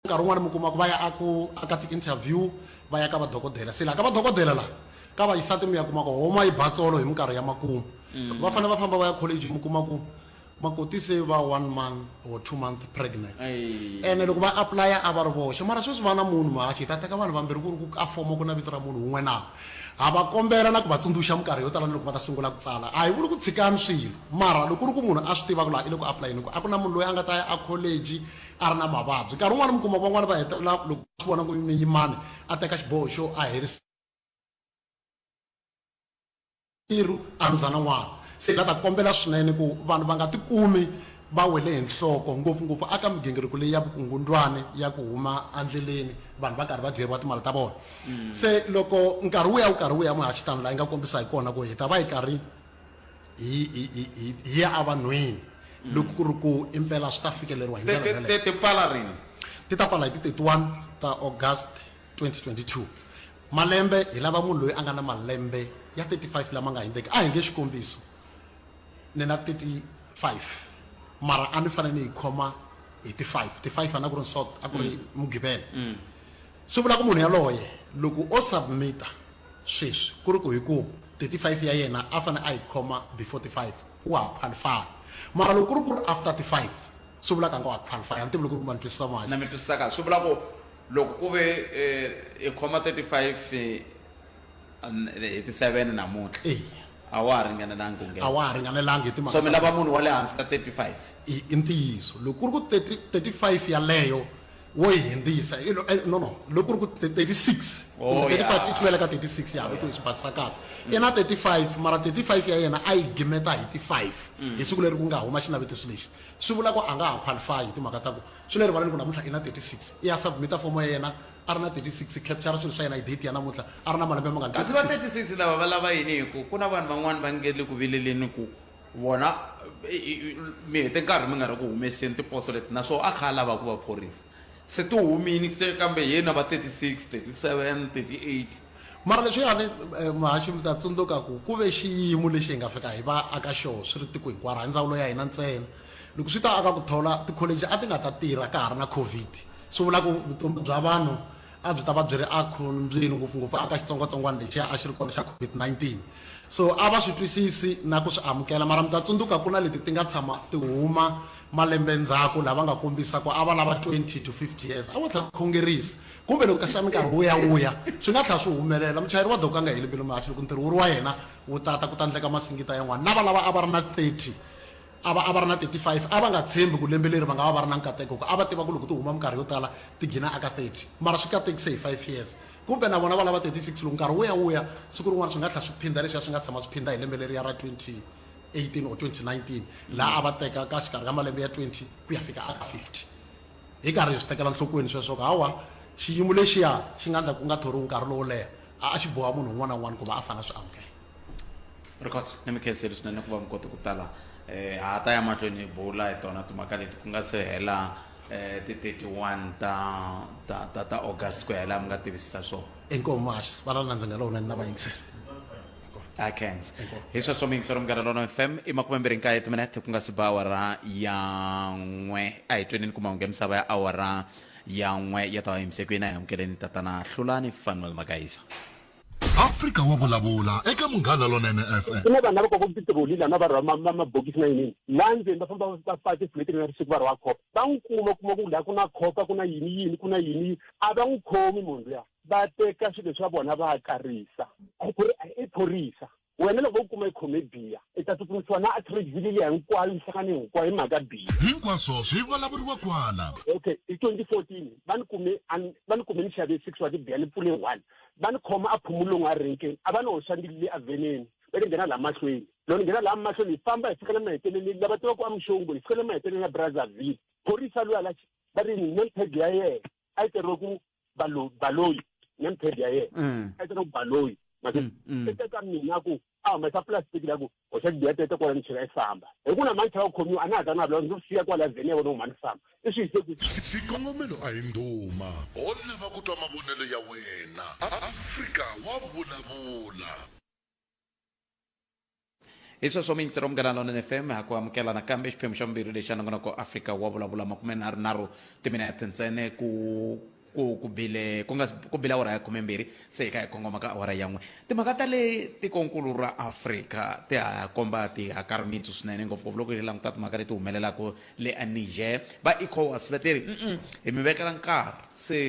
Nkarhi wun'wana mi kuma ku va ya a ku a ka ti-interview va ya ka vadokodela se laha ka vadokodela laha ka vaxisati mi ya kuma ku homa yi ba tsolo hi minkarhi ya makumu loko va fanele va famba va ya college mi kuma ku makoti se va one month or two month pregnant ene loko va apply-a a va ri voxe mara sweswi va na munhu mhaxi hi ta teka vanhu vambirhi ku ri ku ka fomo ku na vito ra munhu wun'we na ha va kombela na ku va tsundzuxa minkarhi yo tala ni loko va ta sungula ku tsala a hi vuli ku tshikani swilo mara loko ku ri ku munhu a swi tiva ku laha i le ku apply-eni ku a ku na munhu loyi a nga ta ya a college a ri na mavabyi nkarhi wun'wana mi kuma van'wana va hetelela loko swi vona ku ni yimani a teka xiboho xo a herisa tirhu a rhuza na n'wana se la ta kombela swinene ku vanhu va nga tikumi va wele hi nhloko ngopfungopfu aka migingiriko leyi ya vukungundwani ya ku huma endleleni vanhu va karhi va dyeriwa timali ta vona se loko nkarhi wu ya wu karhi wu ya muhaxitano laha yi nga kombisa hi kona ku hi ta va yi karhi hi hi- hi- hi- hi ya evanhwini loko ku ri ku impela swi ta fikeleriwa hi Ti- ndlela ti- yaleyo. ti- ti pfala rini ti ta pfala hi ti 31 ta august 2022 malembe hi lava munhu loyi a nga na malembe ya 35 lama nga hindzeki a hi nge xikombiso ni na 35 mara a ni fanele ni yi khoma hi ti 5 ti 5 a na ku ri nsot a ku ri mugqivela swi vula ku munhu yaloye loko o submita sweswi ku ri ku hi ku 35 ya yena a fanele a yi khoma before 35 wa ha qualify mara loko ku ri ku ri after 35 swi vulaka nga wa qualify a ni tivi loko ri ma ni twisisa manje na mi twisisa kahle swi vula ku loko ku ve eh, i khoma 35 eh, an- hi ti 7 namuntlha eya a wa ha ringanelanga ku a nghena wa ha ringanelanga hi timhaka so mi ta- lava munhu wa le hansi ka 35 i i ntiyiso loko ku ri ku 30 35 yaleyo wo yi hindzisa i lo- eh, no no loko ku ri ku 36 Oh, kumbe 35 yeah. i tluvela ka 36 ya loko hi swi basisa kahle i na 35 mara 35 ya yena a yi gimeta hi ti 5 Mm. hi siku leri ku nga huma xinavetiso lexi swi vula ku a nga ha qualify hi timhaka ta ku swi le rivaleni ku namuntlha i na 36 i ya submita fomo ya yena a ri na 36 capture swilo swa yena hi date ya namuntlha a ri na malembe mangani kasi va 36 lava va lava yini hi ku ku na vanhu van'wani va nge le ku vileleni ku vona mi hete nkarhi mi nga ri ku humeseni tiposo leti naswona a kha a lava ku va phorisa se ti humile se kambe hi yena va 36 37 38 mara leswiyani eh, muhaxi mi ta tsundzuka ku ku ve xiyimo lexi hi nga fika hi va aka xoho swi ri tiko hinkwaro hi ndzawulo ya hina ntsena loko swi ta aka ku thola tikholeji a ti nga ta tirha ka ha ri na covid swi vula ku vutomi bya vanhu a byi ta va byi ri ekhombyeni ngopfungopfu aka xitsongwatsongwana lexiya a xi ri kona xa covid-19 so a va swi twisisi na ku swi amukela mara mi ta tsundzuka ku na leti ti nga tshama ti huma malembe ndzhaku lava nga kombisa ku a va lava 20 to 50 years a vo tlhela khongerisa kumbe loko kasi minkarhi wu ya wu ya swi nga tlhela swi humelela muchayeri wa doka nga heli mbilu mahasi loko ntirho wu ri wa yena wu tata ku ta ndleka masingita yan'wana lava lava a va ri na 30 A va a va ri na 35. A va nga tshembi ku lembe leri va nga va va ri na nkateko hikuva a va tiva ku loko ti huma minkarhi yo tala ti gina eka 30. Mara swi katekise hi five years. Kumbe na vona va lava 36 loko nkarhi wu ya wu ya, siku rin'wana swi nga tlhela swi phinda leswiya swi nga tshama swi phinda hi lembe leriya ra 2018 or 2019 laha a va teka ka xikarhi ka malembe ya 20 ku ya fika eka 50. Hi karhi hi swi tekela nhlokweni sweswo swa ku hawa xiyimo lexiya xi nga endla ku nga thoriwi nkarhi lowo leha, a a xi boha munhu un'wana na un'wana ku va a fanele a swi amukela. records ni mi khenseli swinene ku va mi kote ku tala um ha ta ya mahlweni hi bula hi tona timhaka leti ku nga se hela um ti 31 ta ta ta ta august ku hela mi nga tivisisa swona inkomu mahasi va ra nandza nga lowunene na vayingiseri akens hi sweswo miyingisero munghana lona fm i makume mbirhi nkaye timinete ku nga si ba awara ya n'we a hi twenini ku mahungu ya misava ya awara ya n'we ya ta va yimisekweni a hi amukeleni tatana hlulani fanuel magayisa afrika wa vulavula eka munghana lonene fm ku na vanhu lava koko titiroli lana va rhwa mabokisi na yinini la ndzeni va famba va fake fuleti na risiku va rhwa khopa va n'wi kuma kuma ku laha ku na khopa ku na yini yini ku na yini a va n'wi khomi munhu luya va teka swilo swa vona va karisa ku ri i phorisa Wena loko vo ku kuma i khome biya, i ta tsutsumisiwa na Atteridgeville liya hinkwayo, minhlangano hinkwayo hi mhaka biya. Hinkwaswo swi vulavuriwa kwala. Okay, hi 2014 va ni kume a ni, va ni kume ni xave six wa tibiya ni pfule one. Va ni khoma a Phumulong a renkeni, a va ni hoxa ni le avheneni va ni nghena laha mahlweni. Loko ni nghena laha mahlweni hi famba hi fika le maheteleleni, lava tivaka ku a Mixongo, hi fika le maheteleleni ya Brazzaville, phorisa luya la va ri ni name tag ya yena. a yi teriwe ku balo baloyi name tag ya yena Mm. a yi teriwe ku baloyi mase Mm, mm. se teka mina ku a humesa plastic la ku hoxa tibiya tete kwala ni chela yi famba hi ku na mani chela ku khomiwa a na ha ta na vula ndzi siya kwala vheni ya vona huma ni famba i swi yise ku xikongomelo a hi ndhuma ho lava ku twa mavonelo ya wena afrika wa vulavula hi sweswo mintsiro munghana lonene fm ha ku amukela nakambe xiphemu xa vumbirhi lexi anongonoko afrika wa vulavula makume nharhu nharhu timinete ntsene ku ku ku bile ku nga si- ku bile awara ya khumembirhi se hi ka hi kongoma ka awara ya n'we timhaka ta le tikonkulu ra afrika ti ha komba ti hakarimitsu swinene ngopfungopfu loko hi languta timhaka leti humelelaka le aniger va ecowas va te ri "Mm-mm, hi mi vekela nkarhi se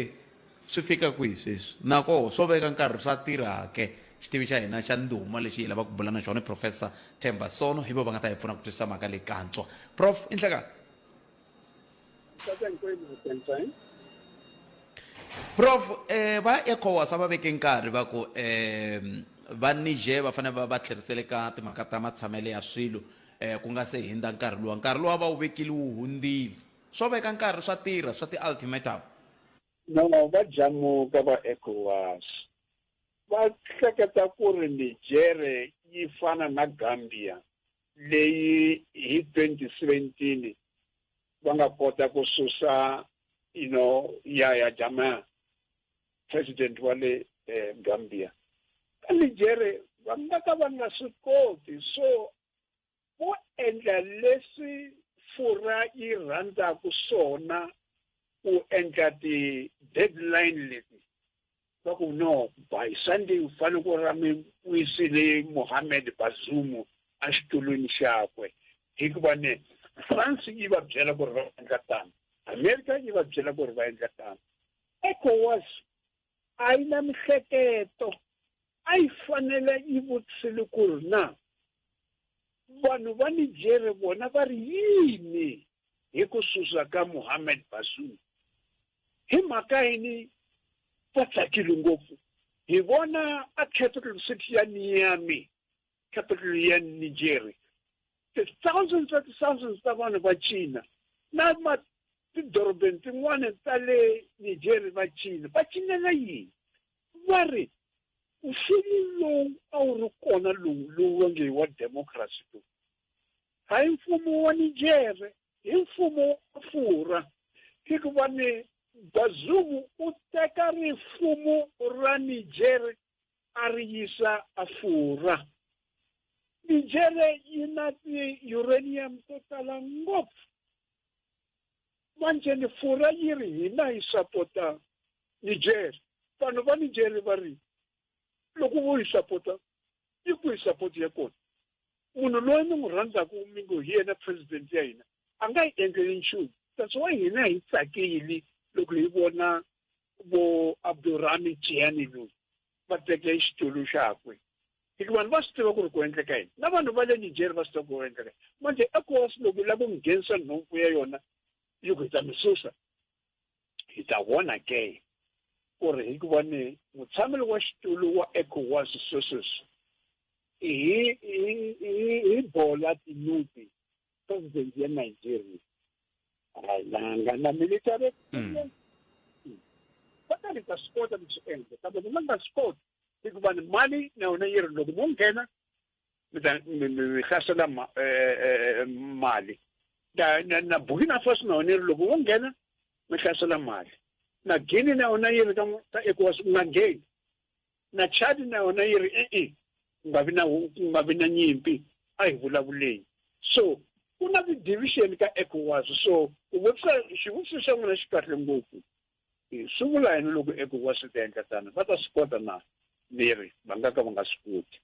Swi fika kwihi sweswi? Nakoho swo veka nkarhi swa tirha ke? Xitivi xa hina xa ndhuma lexi hi lavaka ku bula na xona i Profesa Themba Sono. Hi vona va nga ta hi pfuna ku twisisa mhaka leyi kantswa. Prof. I nhlekani? Prof. Va Ecowas a va veke nkarhi va ku va Niger va fanele va va tlherisela eka timhaka ta matshamelo ya swilo ku nga se hindza nkarhi luwa. Nkarhi luwa a va wu vekile wu hundzile. Swo veka nkarhi swa tirha swa ti-ultimatum? No, va jamuka va Ecowas. Va hleketa ku ri Nijere yi fana na Gambia leyi hi 2017 va nga kota ku susa you know Yahya Jammeh president wa le eh, Gambia. Ka Nijere va nga ka va nga swi koti so Ku endla leswi furha yi rhandzaka swona ku endla ti-deadline leti va ku no by sunday u fanele ku ra mi wisile mohammed bazoum exitulwini xakwe hikuva ne france yi va byela ku ri va endla tano america yi va byela ku ri va endla tano ecowas a yi na mihleketo a yi fanele yi vutisile ku ri na vanhu va nijere vona va ri yini hi ku susa ka muhammed basu hi mhaka yini va tsakile ngopfu hi vona a capital city ya niyami capital ya Nigeria the thousands of thousands ta vanhu va China na ma tidorobeni tin'wana ta le Nigeria va China va cinela yini va ri mfumo lowu a wu ri kona lowu lowu va nge wa democracy lowu hayi mfumo wa Nigeria hi mfumo wa Afura hikuva ni Bazungu u teka rifumo ra Nigeria a ri yisa Afura. Nijere yi na ti-uranium to tala ngopfu. Manje ni Fura yi ri hina hi sapota Nijere. Vanhu va Nijere va ri, loko vo yi sapota, yi ku hi sapoti ya kona. Munhu loyi mi n'wi rhandzaka mi ngo hi yena president ya hina, a nga hi endleli nchumu. That's why hina hi tsakile loko hi vona vo abdurami chianilu va teke xitulu xakwe hikuva vanhu va swi tiva ku ri ku endleka yini na vanhu va le nijeri va swi tiva ku ri endleka manje ecowas loko lava ku nghenisa nhomfu ya yona yi ku hi ta mi susa hi ta vona ke ku ri hikuva ni mutshameli wa xitulu wa ecowas swesweswi hi hi hi hi bola tinyuti president ya nigeria ayilanga na military experience va ta ni ta swi kota ku swi endla kambe ni nga nga swi koti hikuva ni mali na yona yi ri loko mo nghena mi ta mi mi mi hlasela ma- eh, eh, eh, mali na na- na burkina faso na yona yi ri loko wo nghena mi hlasela mali na guini na yona yi ri ka ka ecowas u nga ngheni na Chad na yona yi ri e-e ku nga vi na ku nga vi na nyimpi a hi vulavuleni so ku na ti-division ka ecowas so ku vutisa xivutiso xa n'wina xi kahle ngopfu swi vula yini loko ecowas swi ta endla tano va ta swi kota na miri va nga ka va nga swi koti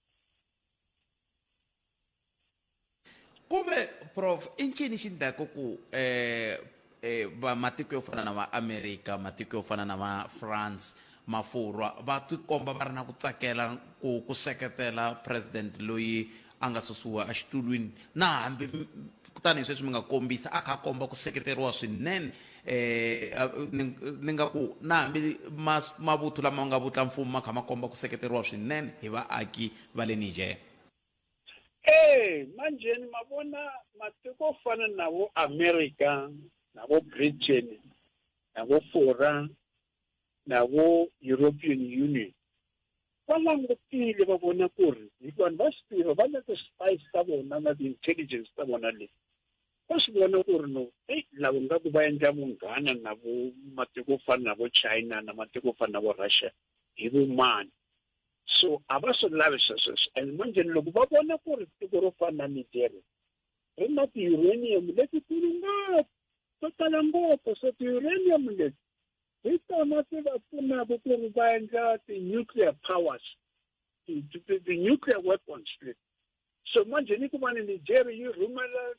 kumbe prof i ncini xi ndlaku ku eh, eh, va matiko yo fana na va america matiko yo fana na va france mafurwa va tikomba va ri na ku tsakela ku ku seketela president loyi a nga susiwa exitulwini na hambi kutani hi sweswi mi nga kombisa a kha a komba ku seketeriwa swinene Eh, a- ni ni nga ku na hambi mas- mavuthu lama nga vutlamfumo ma kha ma komba ku seketeriwa swinene hi vaaki va le Niger. Ee, manjheni ma vona matiko yo fana na vo America, na vo Britain, na vo Fora, na vo European Union va langutile va vona ku ri hikuva vanhu va swi tiva va na ti-spice ta vona na ti-intelligence ta vona leti va swi vona ku ri no eyi lava nga ku va endla vunghana na vo matiko ku fana na vo china na matiko ku fana na vo russia hi vumani so a va swi lavi swesweswo and manjheni loko va vona ku ri tiko ro fana na nigeria ri na ti-uranium letikulu ngopfu to tala ngopfu so ti-uranium leti hi tona ti va pfunaka ku ri va endla ti-nuclear powers ti-nuclear weapons leti so manje ni kuma ni nigeria yi rhumela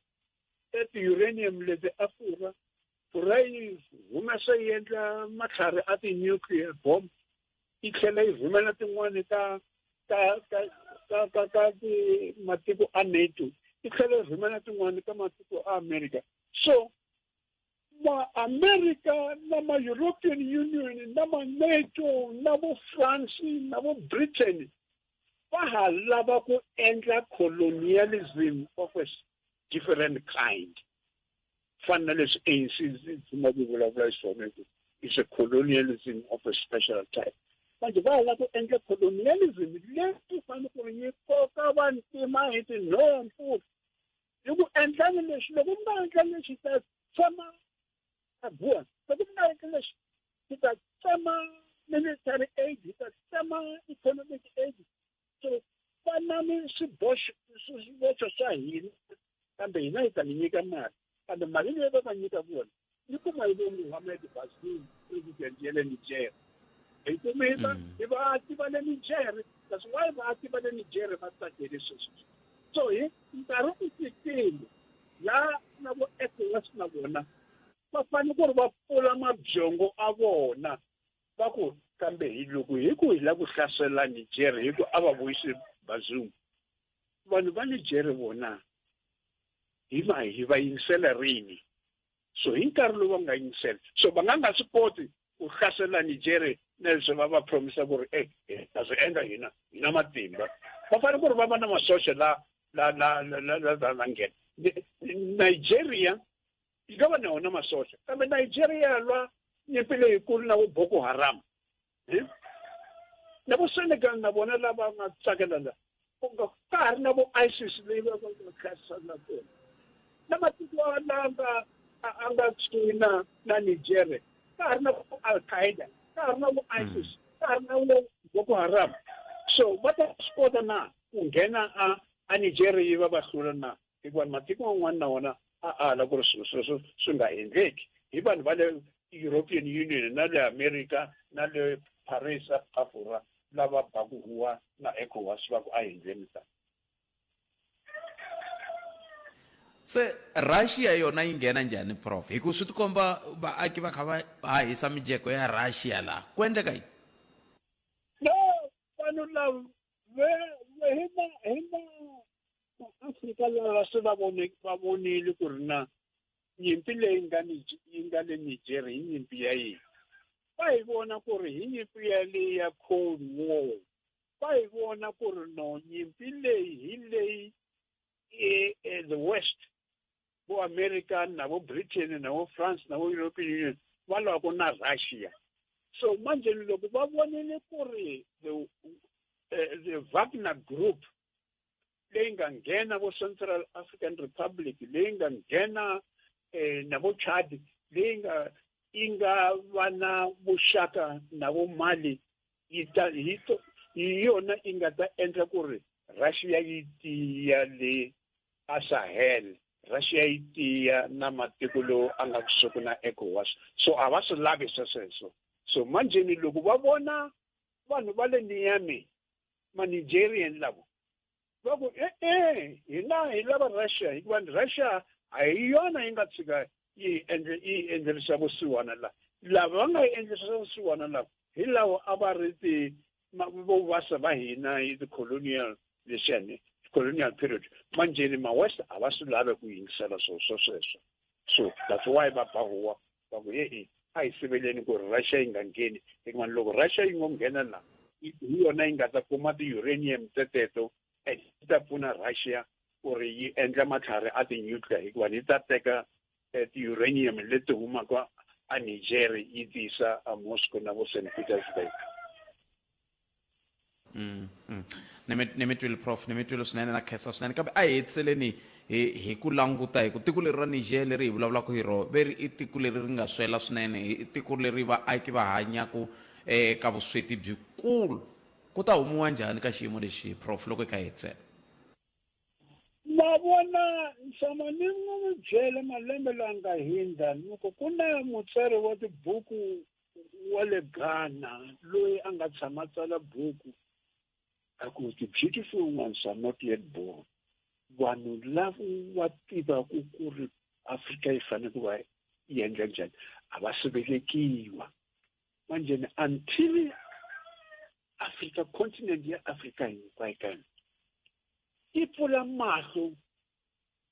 e ti-uranium leti a furha furha yi humesa yi endla matlhari a ti-nuclear bomb yi tlhela yi rhumela tin'wani ta ta ta ta ta ta matiko a nato yi tlhela yi rhumela tin'wani ta matiko a america so maamerica na ma-european union na ma-nato na vo france na vo britain va ha lava ku endla colonialism of a different kind fana na leswi anc zima ku vulavula hi swona ku is a colonialism of a special type manje va lava ku endla colonialism leyi fanele ku yi koka vantima hi tinhompfu hi ku endlani leswi loko mi nga endla leswi ta tshama abuwa loko mi nga endla leswi hi ta tsema military aid hi ta tsema economic aid so fanani swiboxo swiboxo swa hina kambe hina hi ta mi nyika mali kambe mali leyi va va nyika vona Ni kuma ibo Mohamed Bazoum president ya le Niger. Hi kume va Mm. hi vaaki va le Niger. That's why vaaki va le Niger va tsakele sweswi. So hi nkarhi u fikile la na vo ECOWAS na vona va fanele ku ri va pfula mabyongo a vona va ku kambe hi loko hi ku hi la ku hlasela Niger hi ku a va vuyisi Bazoum. Vanhu va Niger vona hi ma hi va yingisela rini? So hi nkarhi lowu va nga yingisela so va nga nga swi koti ku hlasela Nigeria na leswi va va promisa ku ri e eh, ta swi endla hina hi na matimba va fanele ku ri va va na masocha la la la la la za na nghena Nigeria yi nga va na wona masocha kambe Nigeria lwa nyimpi leyikulu na vo Boko Haram na vo senegal na vona lava nga tsakela la ka ha ri na vo isis leyi va va nga kharisana na kona na matiko lama nga a nga kusuhi na na nigeria ka ha ri na vo al qaeda ka ha ri na vo hmm. isis ka ha ri na vo boko haram so va ta swi kota na ku nghena a a nigeria yi va va hlula na hikuva matiko man'wana na wona a ala ku ri swilo sweswo swi nga endleki hi vanhu va le european union na le america na le paris africa lava baku huwa na ecowas va ku a hi ndzeni tani se russia yona yi nghena njhani prof hi ku swi tikomba vaaki va kha va hahisa mijeko ya russia laha ku endleka yini no vanhu lava hi va hi va maafrika lava se va vone va vonile ku ri na nyimpi leyi nga ni yi nga le nigeria hi nyimpi ya yini va yi vona ku ri hi nyimpi ya leyi ya cold war va yi vona ku ri no nyimpi leyi hi leyi e, e, the west vo america na vo britain na vo france na vo european union va lwaka na russia so manjheni loko va vonile ku ri the, uh, the wagner group leyi nga nghena vo central african republic leyi nga nghena eh, na vo chad leyi nga yi nga va na vuxaka na vo mali yi ta hi to- hi yona yi nga ta endla ku ri russia yi tiya le asahel russia yi tiya na matiko lowu a nga kusuku na ecowas so a va swi lavi swesweswo so manjheni loko va vona vanhu va le niyami manigerian lavo va ku e-e hina hi lava russia hikuva ni russia a hi yona yi nga tshika yi endle yi endlerisa vusiwana la lava va nga yi endlerisa vusiwana lava hi lawo a va ri ti vovasa va hina hi ti-colonial lexani colonial period manjheni ma-west a va swi lave ku yingisela swo swo sweswo so that's why va ba huwa va ku e-e a hi siveleni ku ri russia yi nga ngheni hikuvanni loko russia yi ngo nghena la hi yona yi nga ta kuma ti-uranium teteto and yi ta pfuna russia ku ri yi endla matlhari a ti-nuclear hikuva yi ta teka eh, ti-uranium leti humaka a niger yi tiyisa a moscow na vo st petersburg ni mi ni mi twile prof ni mi twile swinene na khensa swinene kambe a hi hetiseleni hi hi ku languta hi ku tiko leri ra niger leri hi vulavulaka hi rona ve ri i tiko leri ri nga swela swinene i tiko leri vaaki va hanyaka eka vusweti byikulu ku ta humiwa njhani ka xiyimo lexi prof loko hi kha hi hetisela ma vona nxama ni nga mi byele malembe langa hindza ni ku ku na mutsari wa tibuku wa le Ghana loyi a nga tshama tsala buku a ku the beautiful ones are not yet born vanhu lavo wa tivaku ku ri afrika yi fanele ku va yi endla njhani a va si velekiwa manjheni until afrika continent ya afrika hinkwayo ka yona yi pfula mahlo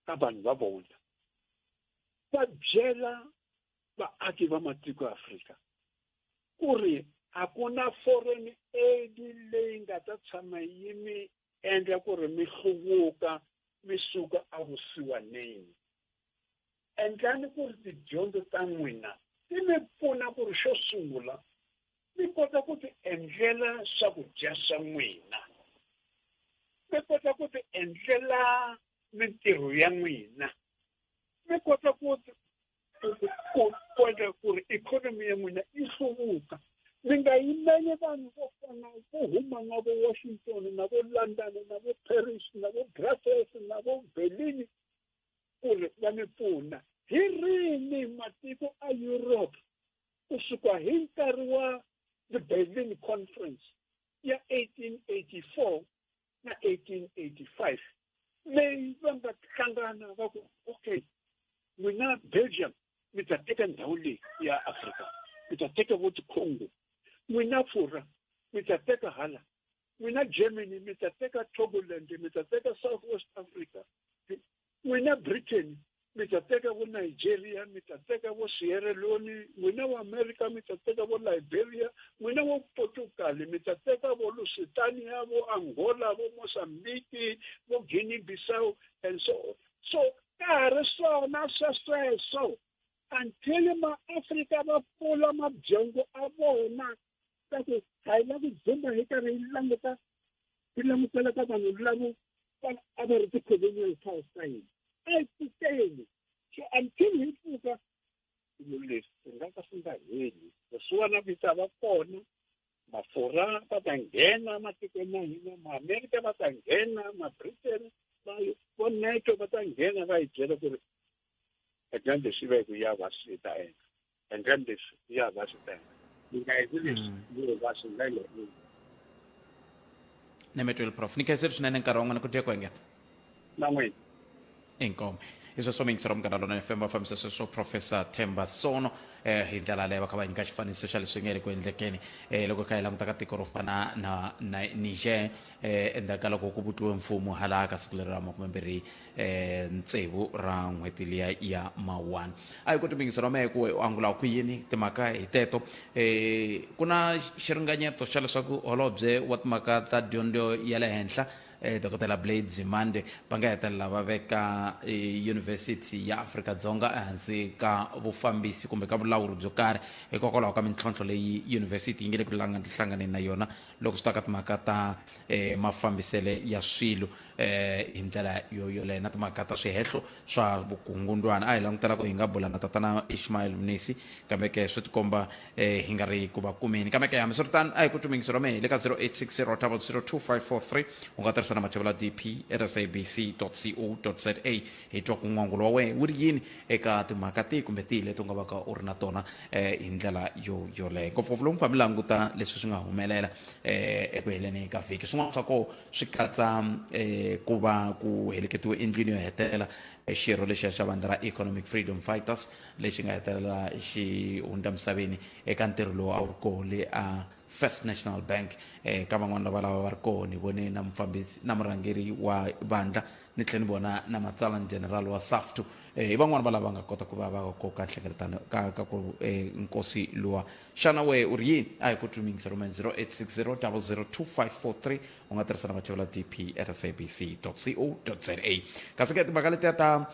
ka vanhu va vona va byela vaaki va matiko ya afrika ku ri a ku na foreign aid leyi nga ta tshama yi mi endla ku ri mi hluvuka mi suka evusiwaneni endlani ku ri tidyondzo ta n'wina ti mi pfuna ku ri xo sungula mi kota ku ti endlela swakudya swa n'wina mi kota ku ti endlela mintirho ya n'wina mi kota ku ku kondla ku ri ikhonomi ya n'wina yi hluvuka mi nga yimeli vanhu vo fana vo huma na vo washington na vo london na vo paris na vo brussels na vo berlin ku ri va mi pfuna hi rini matiko a europe ku suka hi nkarhi wa the berlin conference ya 1884 na 1885 leyi va nga hlangana va ku okay n'wina belgium mi ta teka ndhawu leyi ya afrika mi ta teka vo tikhongo n'wina furha mi ta teka hala n'wina germany mi ta teka togoland mi ta teka south west africa n'wina Britain mi ta teka vo Nigeria mi ta teka vo Sierra Leone n'wina wa America mi ta teka vo Liberia n'wina wa Portugal mi ta teka vo Lusitania vo Angola vo Mozambique vo Guinea Bissau and so on so ka ha ri swona swesweswo until maafrika va pfula mabyangu a vona kasi ha yi lavi dzumba hi karhi yi languta yi langutela ka vanhu lavo a va ri ti-colonial powers ta hina a yi titele so until hi pfuka swilo leswi swi nga ka swi nga heli leswiwana vita va kona mafurha va ta nghena matikweni ya hina maamerika va ta nghena mabritain va vo neto va ta nghena va yi byela ku ri edyandze swi ve ku ya va swi ta endla Handle leswi ya va swi tenda. Mina hi leswi yo va swi nga le. Nemetwel prof. Ni khenseri swinene nkarhi wa n'wina ku dye ku engeta. Na n'wina. Inkomu. Hi sweswo mi yingisela munghana lona FM va fambisa sweswo Professor Themba Sono eh hi ndlela leyo va kha va nyika xifaniso xa leswi nge ri ku endlekeni eh loko kha hi languta ka tiko ro fana na na Niger eh endzhaku ka loko ku vutiwe mfumo halaka siku leri ra makume mbirhi eh, tsevu ra n'hweti liya ya mawani a hi ku timbingiso ra mehe ku u angula ku yini timhaka hi teto eh, ku na xiringanyeto xa leswaku holobye wa timhaka ta dyondzo ya le henhla eh, dokodela blade zimande va nga hetelela va veka eh, yunivhesiti ya afrika dzonga ehansi ka vufambisi kumbe ka vulawuri byo karhi hikokwalaho ka mintlhontlho leyi yunivhesiti yi nge le ku langa- hlanganeni na yona loko swi ta ka timhaka ta eh, mafambisele ya swilo eh hi ndlela yo yoleyo na timhaka ta swihehlo swa vukungundwana a hi langutela ku hi nga bula na tatana ishmael mnisi kambe ke swi tikomba eh hi nga ri ku va kumeni kambe ke hambi swi ri tano a hi ku tumingisi ra mehe le ka 0860 u nga tirhisa na mathevula dp at sabc co za hi twa ku n'wangulo wa wena wu ri yini eka timhaka tihi kumbe tihi leti u nga va ka u ri na tona eh hi ndlela yo yoleyo ngopfungopfu lomu ka mi languta leswi swi nga humelela eh eku heleni ka vhiki swin'wana swa kona swi katsa eh, ku va ku heleketiwe endlwini yo hetelela eh, xirho lexiya xa vandla ra economic freedom fighters lexi nga hetelela xi hundza misaveni eka ntirho lowu a wu ri koho le a first national bank eh, ka van'wana lava lava va ri koho ni vone na mufambisi na murhangeri wa vandla ni tlhela ni vona na matsalani general wa saftu eh, hi van'wana va lava nga kota ku va va koka nhlengeletano ka, ka ku eh, nkosi luwa xana wehe u ri yini a hi ku twi mingisa rhumela 0860 002543 u nga tirhisa na vachevela dp at sabc co za kasi ke timhaka letiya ta um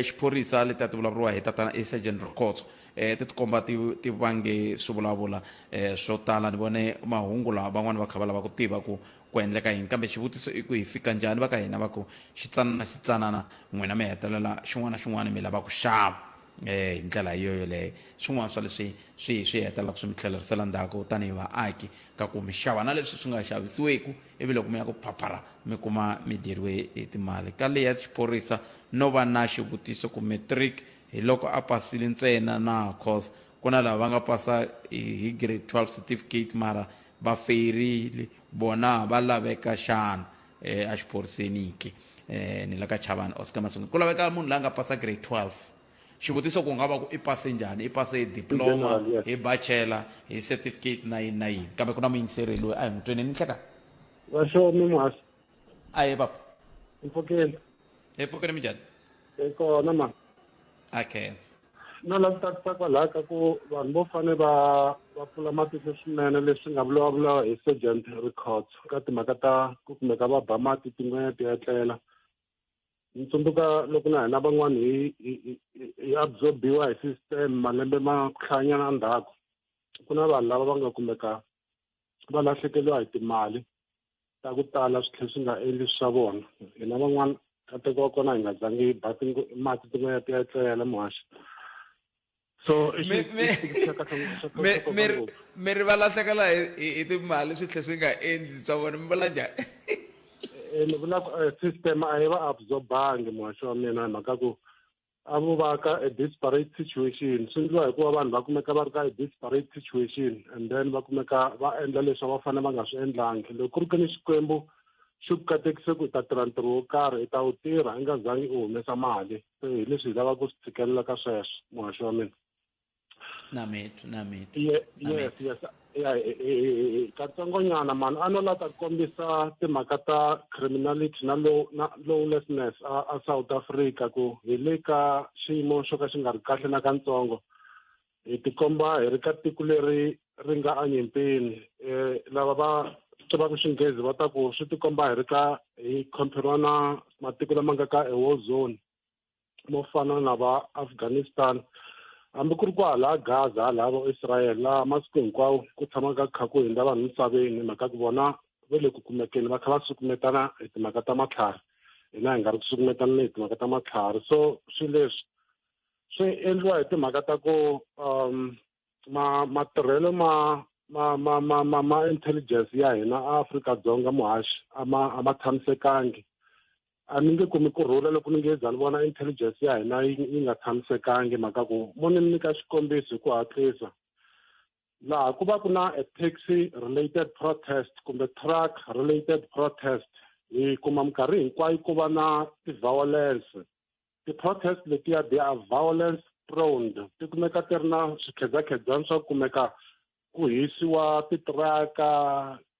xiphorisa letiya ti vulavuriwa hi tatana i sergeant rokotso um ti tikomba ti ti vange swi vulavula um swo tala ni vone mahungu lawa van'wani va kha va lava ku tiva ku ku endleka yini kambe xivutiso i ku hi fika njhani va ka hina va ku xitsanana xitsanana n'wina mi hetelela xin'wana na xin'wana mi lava ku xava hi ndlela yo yoleyo swin'wana swa leswi swi swi hetelelaka swi mi tlhelerisela ndzhaku tanihi vaaki ka ku mi xava na leswi swi nga xavisiweku ivi loko mi ya ku phaphara mi kuma mi dyeriwe hi timali ka leya xiphorisa no va na xivutiso ku matric hi loko a pasile ntsena na cause ku na lava va nga pasa hi grade 12 certificate mara va feyirile vona va laveka xana eh, a xiphoriseniki eh, ni la ka chavani oscar masungu ku laveka munhu la nga pasa grade 12 xivutiso ku nga va ku i pase njhani i pase hi diploma hi bachela hi certificate na yini na yini kambe ku na muyingiseri loyi a hi n'wi tweneni nhleka vaxomi muhasi a ye papa empfokeni empfokeni mi njhani kona ma a khensa no la tsakisa kwalaho ka ku vanhu vo fane va va pfula matihlo swinene leswi nga vulavula hi sergeant records ka timhaka ta ku kumeka va ba mati tin'wenya ti etlela ni tsundzuka loko na hina van'wani hi hi absorbiwa hi system malembe ma ku hlayanyana ndzhaku ku na vanhu lava va nga kumeka va lahlekeliwa hi timali ta ku tala swi tlhe swi nga endli swa vona hina van'wana kateko wa kona hi nga zangi hi ba mati tin'wana ti ya etlela muhaxi so mi ri va lahlekela hi timali swi tlhe swi nga endli swa vona mi vula njhani ni vula system a yi va absorbangi muhaxi wa mina hi mhaka ku a vo va ka a disparate situation swi endliwa hikuva vanhu va kumeka va ri ka a disparate situation and then va kumeka va endla leswi va fanele va nga swi endlangi loko ku ri ke ni xikwembu xi ku katekise ku i ta tirha ntirho wo karhi i ta wu tirha i nga zangi u humesa mali se hi leswi hi lavaka ku swi tshikelela ka sweswo muhaxi wa mina nametu nametu Ye- yes yes ya eh, eh, eh, eh, katsongonyana mani a no la ta kombisa timhaka ta criminality na low- na lawlessness a a south africa ku hi le ka xiyimo xo ka xi nga ri kahle na katsongo hi tikomba hi ri ka tiko leri ri nga anyimpini um lava va tivaka xinghezi va ta ku swi tikomba hi ri ka hi comperiwa na matiko lama nga ka e war zone mo fana na va afghanistan hambi ku ri ku hala gaza hala va israel laha masiku hinkwawo ku tshamaka kha ku hundza vanhu misaveni hi mhaka ku vona va le ku kumekeni va kha va sukumetana hi timhaka ta matlhari hina hi nga ri ku sukumetaneni hi timhaka ta matlhari so swilo leswi swi endliwa hi timhaka ta ku um ma matirhelo ma ma ma ma ma ma intelligence ya hina Afrika-Dzonga muhaxi a ma a ma tshamisekangi a ni nge kumi ku rhula loko ni nge za ni vona intelligence ya hina yi yi nga tshamisekangi mhaka ku mo ni nyika xikombiso hi ku hatlisa laha ku va ku na a taxi related protest kumbe truck related protest hi kuma minkarhi hinkwayo ku va na ti-violence ti-protest letiya they are violence prone ti kumeka ti ri na swikhedzakhedzani swa ku kumeka ku hisiwa titiraka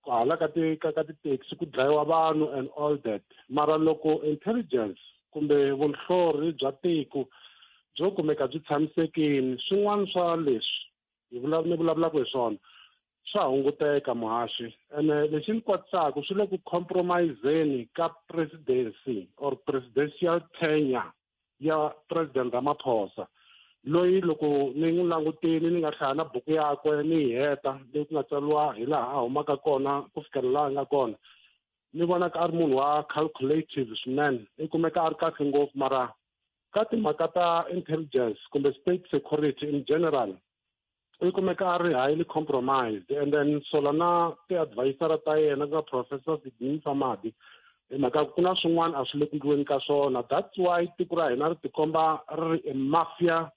hala ka ti ka ka tithekisi ku dlayiwa vanhu and all that mara loko intelligence kumbe vunhlori bya tiko byo kumeka byi tshamisekini swin'wana swa leswi hi vulavula ni vulavulaka hi swona swa hunguteka muhaxi ene lexi ni kwatisaka swi le ku compromiseni ka presidency or presidential tenure ya president ramaphosa loyi loko ni n'wi langutini ni nga hlaya na buku yakwe ni yi heta leyi ku nga tsariwa hi laha a humaka kona ku fikela laha a nga kona ni vonaka a ri munhu wa calculative swinene i kumeka a ri kahle ngopfu mara ka timhaka ta intelligence kumbe state security in general u kumeka a ri highly compromised and then sola na ti-advisora ta yena ku nga professor sidini famadi hi mhaka ku na swin'wana a swi le ku ndliweni ka swona that's why tiko ra hina ri tikomba ri ri a mafia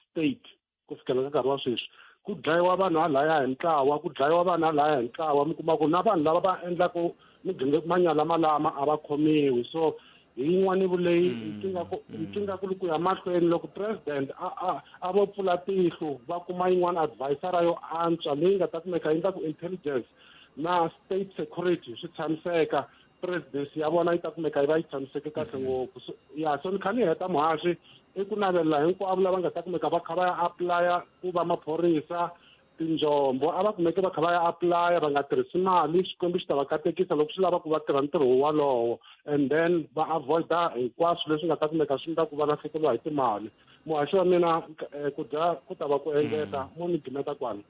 state ku fikela ka nkarhi wa sweswi ku dlayiwa vanhu halaya hi ntlawa ku dlayiwa vanhu halaya hi ntlawa mi kuma ku na vanhu lava va endlaka manyala malama a va khomiwi so hi yin'wani vuleyi ntsingakulu mm. mm. ku ya mahlweni loko president a a a vo pfula tihlo va kuma yin'wana advisora yo antswa leyi nga ta kumeka yi nga ku intelligence na state security swi tshamiseka presidency ya vona yi ta kumeka yi va yi tshamiseke kahle mhm. ngopfu so ya so ni kha ni heta muhaxi i ku navelela hinkwavo lava nga ta kumeka va kha va ya aplaya ku va maphorisa tinjombo a va kumeke va kha va ya aplaya va nga tirhisi mali xikwembu xi ta va katekisa loko swi lava ku va tirha ntirho wolowo and then va avoida hinkwaswo leswi nga ta kumeka swi nga ku va lahlekeriwa hi timali muhaxi wa mina eh, ku dya ku ta va ku engeta mhm. mo ni gimeta kwani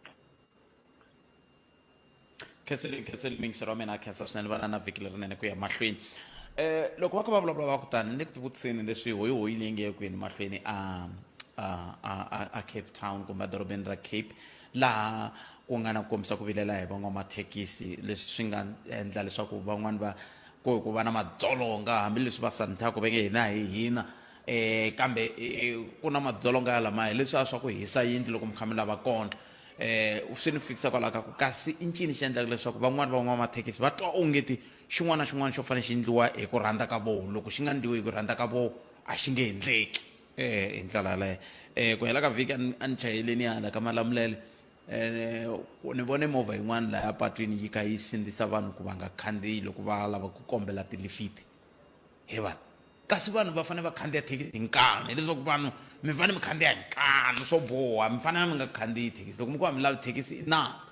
khenseli khenseli mingiselo wa mina khensa swinene va na na vhiki lerinene ku ya mahlweni um loko va kha va vulavula va kutani ni le ku tivutiseni leswi hoyi hoyi leyi nge kwini mahlweni a a a a- a cape town kumbe edorobeni ra cape laha ku nga na ku kombisa ku vilela hi van'wamathekisi leswi swi nga endla leswaku van'wani va ku ku va na madzolonga hambileswi va santhaka va nge hina hi hina eh kambe eh, ku na madzolonga ya lamaya leswiya swa ku hisa yindlu loko mi kha mi lava kona um swi ni fikisa kwalaho ka ku kasi i ncini xi endlaka leswaku van'wani van'wamathekisi va twa ongeti xin'wana na xin'wana xo fanele xi endliwa hi ku rhandza ka voho loko xi nga endliwi hi ku rhandza ka voho a xi nge endleki um hi ndlela yaleyo um ku hela ka vhiki a ni chayeleni hala ka malamulele um ni vone movha yin'wana laya patwini yi kha yi sindzisa vanhu ku va nga khandziyi loko va lava ku kombela tilifiti hi vanhu kasi vanhu va fanele va khandziya thekisi hi nkanu hileswaku vanhu mi fanele mi khandziya hi nkanu swo boha mi fanele mi nga khandziyi thekisi loko mi ku va mi lavi thekisi i naka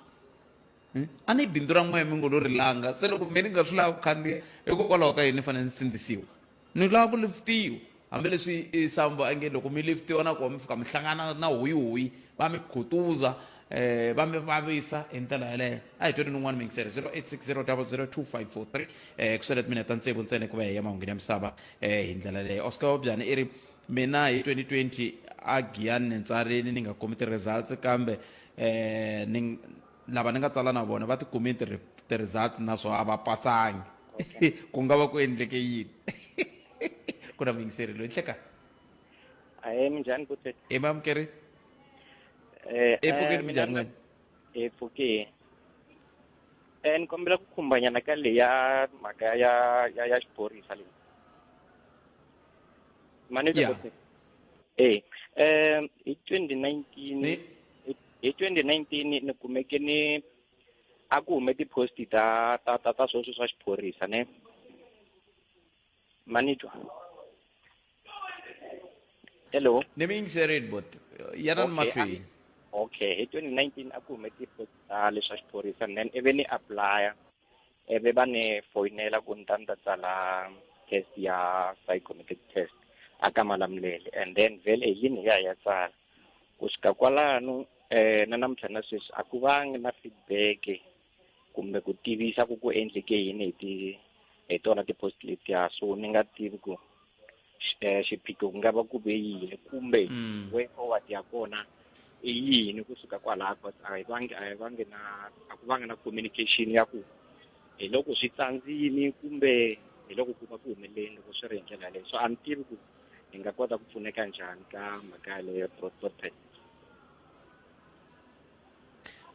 hmm? a ni bindzu ra n'wehe mi ngo lo ri langa se loko me ni nga swi lava ku khandziya hikokwalaho ka yini ni fanele ni sindzisiwa ni lava ku lifitiwa hambileswi isambo a nge loko mi lifitiwa na kona mi fika mi hlangana na hoyihoyi va mi khutuza eh va mi vavisa hi ndlela yeleyo a hi tweni ni un'wana mingisele 0860002543 eh ku swele timinete ta ntsevu ntsena ku va hi ya mahungu ya misava eh hi ndlela yeleyo oscar wabyana i ri mina hi 2020 a giyani ni ntswarini ni nga kumi ti-results kambe eh ni lava ni nga tsala na vona va ti kumi ti-results naswona a va pasangi ku nga va ku endleke yini ku na muyingiseri loyi nhleka ahee minjhani butet i mamukeri Eh, Epfukeni eh, mina Mujarimani. ni- epfukeni Eh, ni kombela ku khumbanyana ka leya mhaka ya- ya ya ya xiphorisa leyi mani Yeah. e um hi twenty nineteen Ni- hi twenty nineteen ni kumeke ni a ku hume ti-post ta ta ta ta sweswo swa xiphorisa ne manitwa hello ni mi yingiserile bot ya na ni Okay, mahlweni okay hi 2019 a ku hume ti-post ta leswa xiphorisa and then ivi ni applya ivi va ni foyinela ku ni ta ni ta tsala test ya psychometric test a ka malamulele and then vhele hi yini hi ya hi ya tsala ku fika kwalano um na namuntlha na sweswi a ku vangi na feedback kumbe ku tivisa ku ku endleke yini hi ti hi tona ti-post letiya so ni nga tivi ku eh, xiphiqo ku nga va ku ve yini kumbe mm. way forward ya kona i yini kusuka kwalaho but a hi vangi a hi vangi na a ku vanga na communication ya ku hi loko swi tsandzini kumbe hi loko ku va ku humeleleni loko swi ri hi ndlela yaleyo so a ni tivi ku hi nga kota ku pfuneka njhani ka mhaka yaleyo ya protest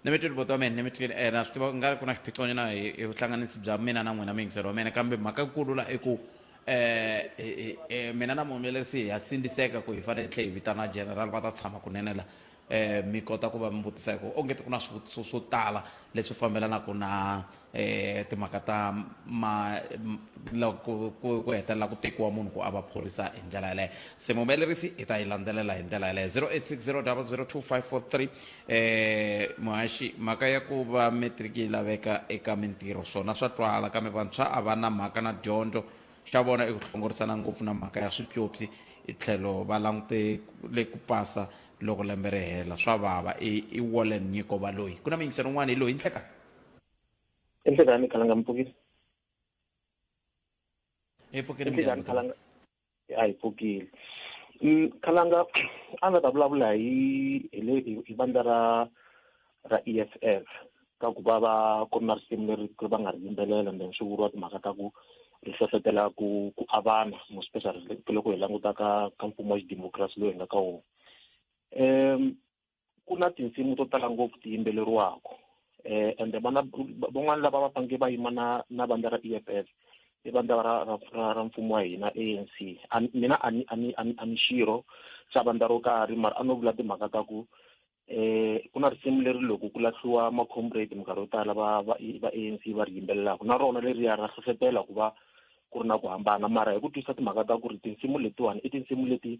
ni mi twile buti wa mina ni mi twile um na swi tiva ku nga ri ku na xiphiqonyana hi hi vuhlanganisi bya mina na n'wina muyingiseri wa mina kambe mhaka nkulu la i ku um mina na muhumelerisi ha sindziseka ku hi fanele hi tlhe hi vitana general va ta tshama kunene la um mi kota ku va mi vutisa hi ku onge ti ku na swivutiso swo tala leswi fambelanaka na um timhaka ta ma loko ku ku hetelela ku tekiwa munhu ku a va phorisa hi ndlela yaleyo se muhumelerisi hi ta yi landzelela hi ndlela yaleyo 0860002543 um muhaxi mhaka ya ku va matriki yi laveka eka mintirho swona swa twala kambe vantshwa a va na mhaka na dyondzo xa vona i ku hlongorisana ngopfu na mhaka ya swipyopyi i tlhelo va langute le ku pasa loko lembe ri hela swa vava i i wallen nyiko valoyi ku na miyingiselo un'wana hi loyi ndleka enhlizani ikhalanga mfukisi ipfukile enhlizani mnjhani khalanga a yi pfukile Mm, khalanga a nga ta vulavula hi hi le- hi hi vandla ra ra e f f ka ku va va ku ri na risimu leri ku va nga ri yimbelela and then swi vuriwa timhaka ta ku ri hlohlotela ku ku avana mo special loko hi languta ka ka mfumo wa xidemokirasi loyi hi nga ka wona um ku na tinsimu to tala ngopfu ti yimbeleriwaka eh ende vana van'wana lava va fange va yima na na vandla ra EFF i vandla ra ra ra mfumo wa hina ANC mina a ni a ni a ni xirho xa vandla ro karhi mara a no vula timhaka ta ku eh ku na risimu leri loko ku lahliwa ma comrade minkarhi yo tala va va va ANC va ri yimbelelaka na rona leri ya ra hlohlotela ku va ku ri na ku hambana mara hi ku twisa timhaka ta ku ri tinsimu letiwani i tinsimu leti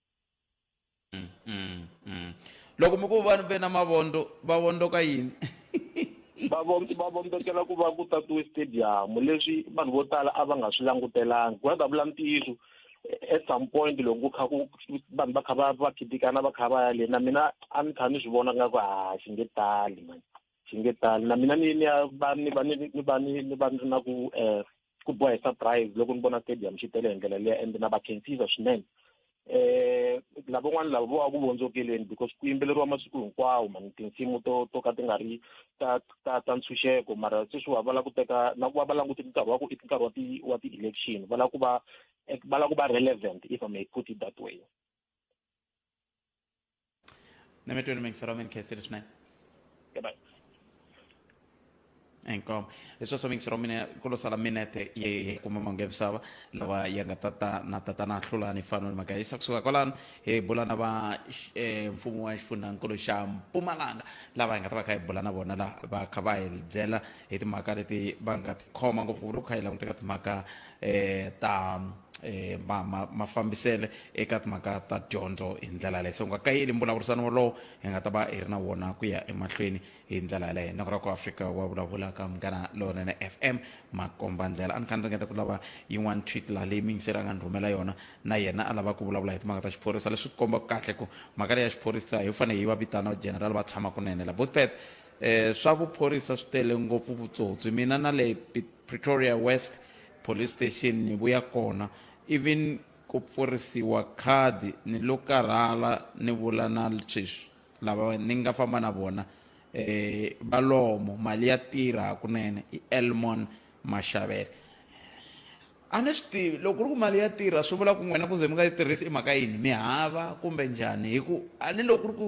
loko mi ku vanhu ve na mavondo va vondoka yini va vo- va vombekela ku va ku tatiwe stadium leswi vanhu vo tala a va nga swi langutelangi ku nga ta vula ntiyiso eh, at some point loko ku kha ku vanhu va kha va va khitikana va kha va ya le na mina a ni kha ni swi vona nga ku ha xi nge tali mani swi nge tani na mina ni ni ya va ni va ni ni va ni ni va ni ri na ku um ku boha hi surprise loko ni vona stadium xi tele hi ndlela leya and na va khensiza swinene um lavan'wana lava vo va ku vondzokeleni because ku yimbeleriwa masiku hinkwawo mani tinsimu to to ka ti nga ri ta ta ta ntshunxeko mara sweswiwa va lava ku teka na ku va va langute nkarhi wa ku i nkarhi wa ti wa ti-election va lava ku va va lava ku va relevant if i may put it that way Nemä tyrming sa romin kesir snai. Goodbye. Enkom. Eso so mix romine kulo sala minete ye kuma mangem sawa lawa yanga tata na tata na hlula ni fano maka isa kusuka kolan e bulana ba e mfumu wa xifundza nkulu xa Mpumalanga lava nga ta va kha bulana bona la ba kha ba hi byela hi timhaka leti va nga ti khoma ngopfu ku ri kha hi languteka timhaka eh ta eh ma ma ma fambisele eka timhaka ta dyondzo hi ndlela yaleyo so nga kayeli mbulavurisano wolowo hi nga ta va hi ri na wona ku ya emahlweni hi ndlela yaleyo noko ra ku afrika wa vulavula ka munghana lowunene f m makomba ndlela a ni kha ni ringeta ku lava yin'wana tweet laha leyi mingiseri a nga ni rhumela yona na yena a lava ku vulavula hi timhaka ta xiphorisa leswi ku kombaka kahle ku mhaka leyi ya xiphorisa hi fanele hi va vitana general va tshama kunene la botpet um swa vuphorisa swi tele ngopfu vutsotsi mina na le Pretoria West Police Station ni vuya kona even ku pfurisiwa khadi ni lo karhala ni vula na sweswi lava ni nga famba na vona eh valomo mali ya tirha hakunene i Elmon Mashavela a ni swi tivi loko ku ri ku mali ya tirha swi vula ku n'wina ku ze mi nga yi tirhisi i mhaka yini mi hava kumbe njhani hi ku a ni loko ku ri ku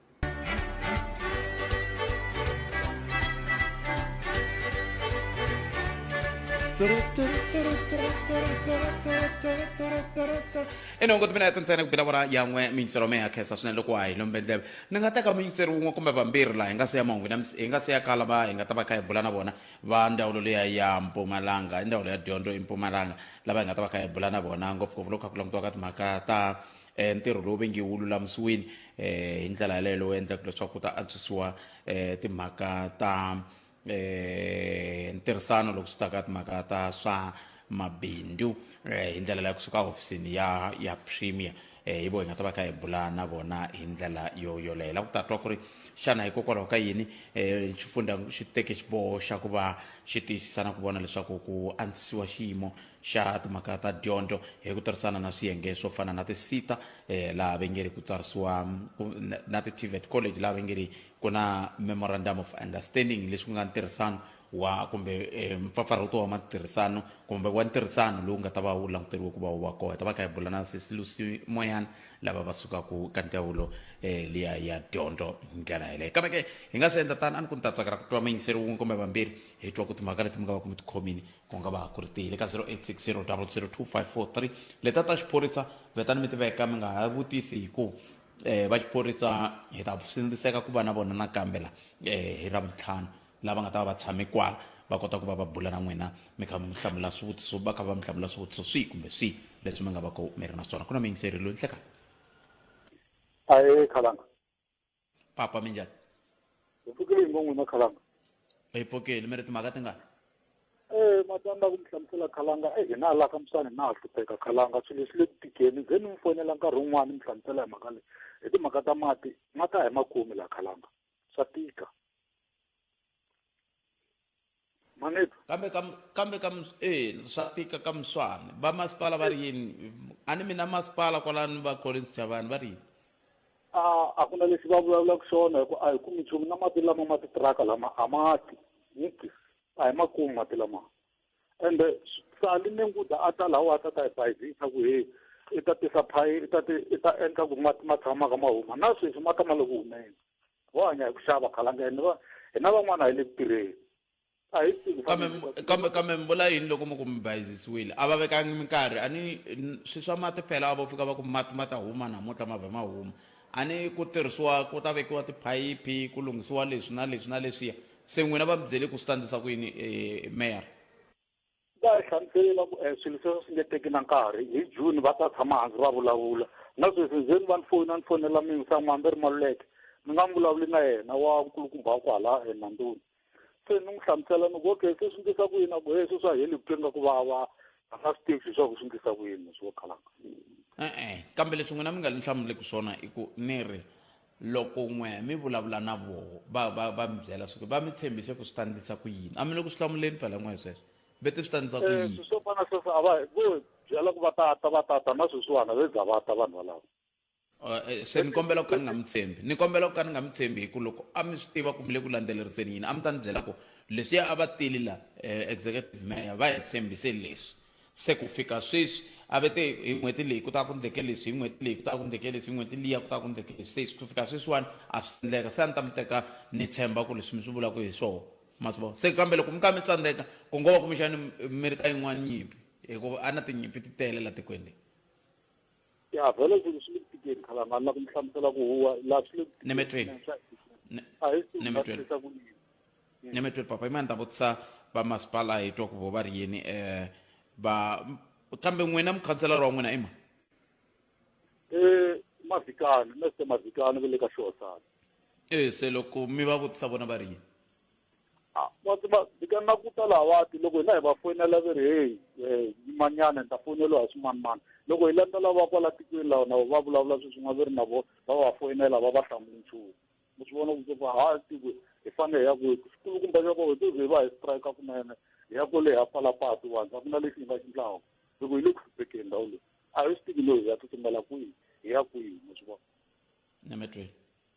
ene ngoti mina yatintsene ku bela vona yan'we miyingiselo me ya khensa swinene loko wa hi lombe ndleve ni nga teka muyingiseri wun'we kumbe vambirhi laha hi nga se ya mahungu na- hi nga se ya kala va hi nga ta va kha hi bula na vona va ndzawulo leya ya mpumalanga i ndzawulo ya dyondzo empumalanga lava hi nga ta va kha hi bula na vona ngopfungopfu loko kha ku langutiwa ka timhaka ta eh, ntirho lowu ve nge wu lulamisiwini eh, hi ndlela yaleyo lowu endlaka leswaku ku ta antswisiwa eh, timhaka ta eh, ntirhisano loko swi ta ka timhaka ta swa mabindzu eh, hi ndlela leyo kusuka hofisini ya ya premier eh, hi vo hi nga ta va kha hi bula na vona hi ndlela yo yoleyo la ku ta twa ku ri xana hikokwalaho ka yini um xifundza xi teke xiboho xa ku va xi tiyisisa na ku vona leswaku ku antswisiwa xiyimo Xa timhaka ta dyondzo hi ku tirhisana na swiyenge swo fana na ti-SETA eh, laha va nge ri ku tsarisiwa ku- na- na ti-TVET college laha va nge ri ku na memorandum of understanding leswi ku nga ntirhisano wa kumbe eh, mpfapfarhuto wa matirhisano kumbe wa ntirhisano lowu nga ta va wu languteriwe ku va wu va kona hi ta va kha hi bula na sesilusi moyana lava va sukaka ka ndzawulo eh, liya ya dyondzo hi ndlela yeleyo kambe ke hi nga se endla tani a ni ku ni ta tsakela ku twa muyingiseri wun'we kumbe vambirhi hi twa ku timhaka leti mi nga va ku mi tikhomini ku nga va ku ri tihi le ka 0860002543 leta ta xiphorisa vetani mi tiveka mi nga ha vutisi hi ku eh va xiphorisa hi ta sindziseka ku va na vona nakambe la eh hi ravuntlhanu lava nga ta va va tshame kwala va kota ku va va bula na n'wina mi kha mi hlamula swivutiso va kha va mi hlamula swivutiso swihi kumbe swihi leswi mi nga va ku mi ri na swona ku na muyingiseri loyi nhlekani ahee khalanga papa mi njhani hi pfukile hi ngo n'wi na khalanga hi pfukile mi ri timhaka tingani e matanda ku mi hlamusela khalanga e hina hala ka musani na ha hlupheka khalanga swilo leswi le ku tikeni ze ni mi fonela nkarhi wun'wana ni mi hlamusela hi mhaka leyi hi timhaka ta mati ma ta hi makumi laha khalanga swa tika maneto kambe kam, kambe kam eh swa tika ka muswana va masipala va ri yini a ni mina masipala kwalani va collins chavani va ri yini a a ku na lexi va vulavulaka xona hikuva a hi kumi nchumu na mati lama ma titiraka lama a ma ti niki a hi ma kumi mati lama ende sali ni nguda a ta lawa a ta ta hi bayizisa ku he i ta tisa phayi i ta ti i ta endla ku mati ma tshamaka ma huma na sweswi ma ta ma loko humeni vo hanya hi ku xava khalanga hina va hina van'wana hi le ku tirheni a hi tivi kambe kambe kambe mi vula yini loko mi ku mi bayizisiwile a va vekangi minkarhi a ni swi swa mati phela a vo fika va ku mati ma ta huma namuntlha ma vhe ma huma a ni ku tirhisiwa ku ta vekiwa tiphayiphi ku lunghisiwa leswi na leswi na leswiya se n'wina va mi byele ku swi ta ndlisa ku yini eh, mayor va hi hlamusele va ku um swilo sweswo swi nge teki na nkarhi hi june va ta tshama hansi va vulavula na sweswi ndzeni va ni foni a ni fonela mingi sa n'wana va ri maluleke ni nga n'wi vulavuli na yena wa nkulukumba wa kwala enanduni se ni n'wi hlamusela ni ku okay se swi ndlisa ku yini a ku he sweswi a heli vutomi nga ku vava a nga swi tivi leswaku swi ndlisa ku yini swo khalanga e-e kambe leswi n'wina mi nga ni hlamuleki swona i ku ni ri Loko n'we mi vulavula na voho, va, va, va mi byela swa ku va mi tshembise ku swi ta ndlisa ku yini. A mi le ku swi hlamuleni phela n'we sweswo. Va te swi ta ndlisa ku Eh, yini. swi swo fana sweswo a va vo byela ku va ta ta va ta ta na sweswiwana ve za va ta vanhu valava. Eh, eh, se ni kombela ku ka ni nga mi tshembi. Ni kombela ku ka ni nga mi tshembi hi ku loko a mi swi tiva ku mi le ku landzeleriseni yini, a mi ta ni byela ku leswiya a va tile la, eh, executive mayor va hi tshembise leswi. Se ku fika sweswi, a va te, Hi n'hweti leyi ku ta ku endleke leswi, hi n'hweti leyi ku ta ku endleke leswi, hi n'hweti liya ku ta ku endleke leswi. Se ku fika sweswiwani a swi si endleka. Se a ni ta mi teka ni tshemba ku leswi mi swi vulaka hi swona. Ma swi vona? Se kambe loko mi kha mi tsandzeka, ku ngo va kumbexani mi ri ka yin'wana nyimpi, hikuva a na tinyimpi ti tele laha tikweni leri. ya vhele swilo swi le ku tikeni khalanga ni la ku mi hlamusela ku huwa laha swi le ku tikeni Nemetweni. a hi swi Nemetweni. tirhisa ku yini nemetwe papa imani ta vutisa va masipala hi twa ku vo va ri yini um va kambe n'wina mukhanselara wa n'wina ima eh mavikani meste mavikani ve le ka xihosana e se loko mi va vutisa vona va ri yini Ah, wa tiva bika na ku ta lavati loko hina hi va foyinela ve ri heyi um yimanyana ni ta foyineliwa hi swimanimani loko hi landza lava kwala tikweni lawa na va vulavula swi swin'wa ve ri na vo va va foyinela va va hlamuli nchumu mi swi vona ku se ku ha tiko hi fanele hi ya kwihi xikulukumba xa kona hi to ze va hi strike kunene hi ya kwale ha pfala patu vanhu a ku na lexi hi nga xi ndlaku hi ku hi le ku hluphekeni ndhawu leyi a hi swi tivi loyi hi ya tsutsumela kwihi hi ya kwihi mi swi vona na me tweni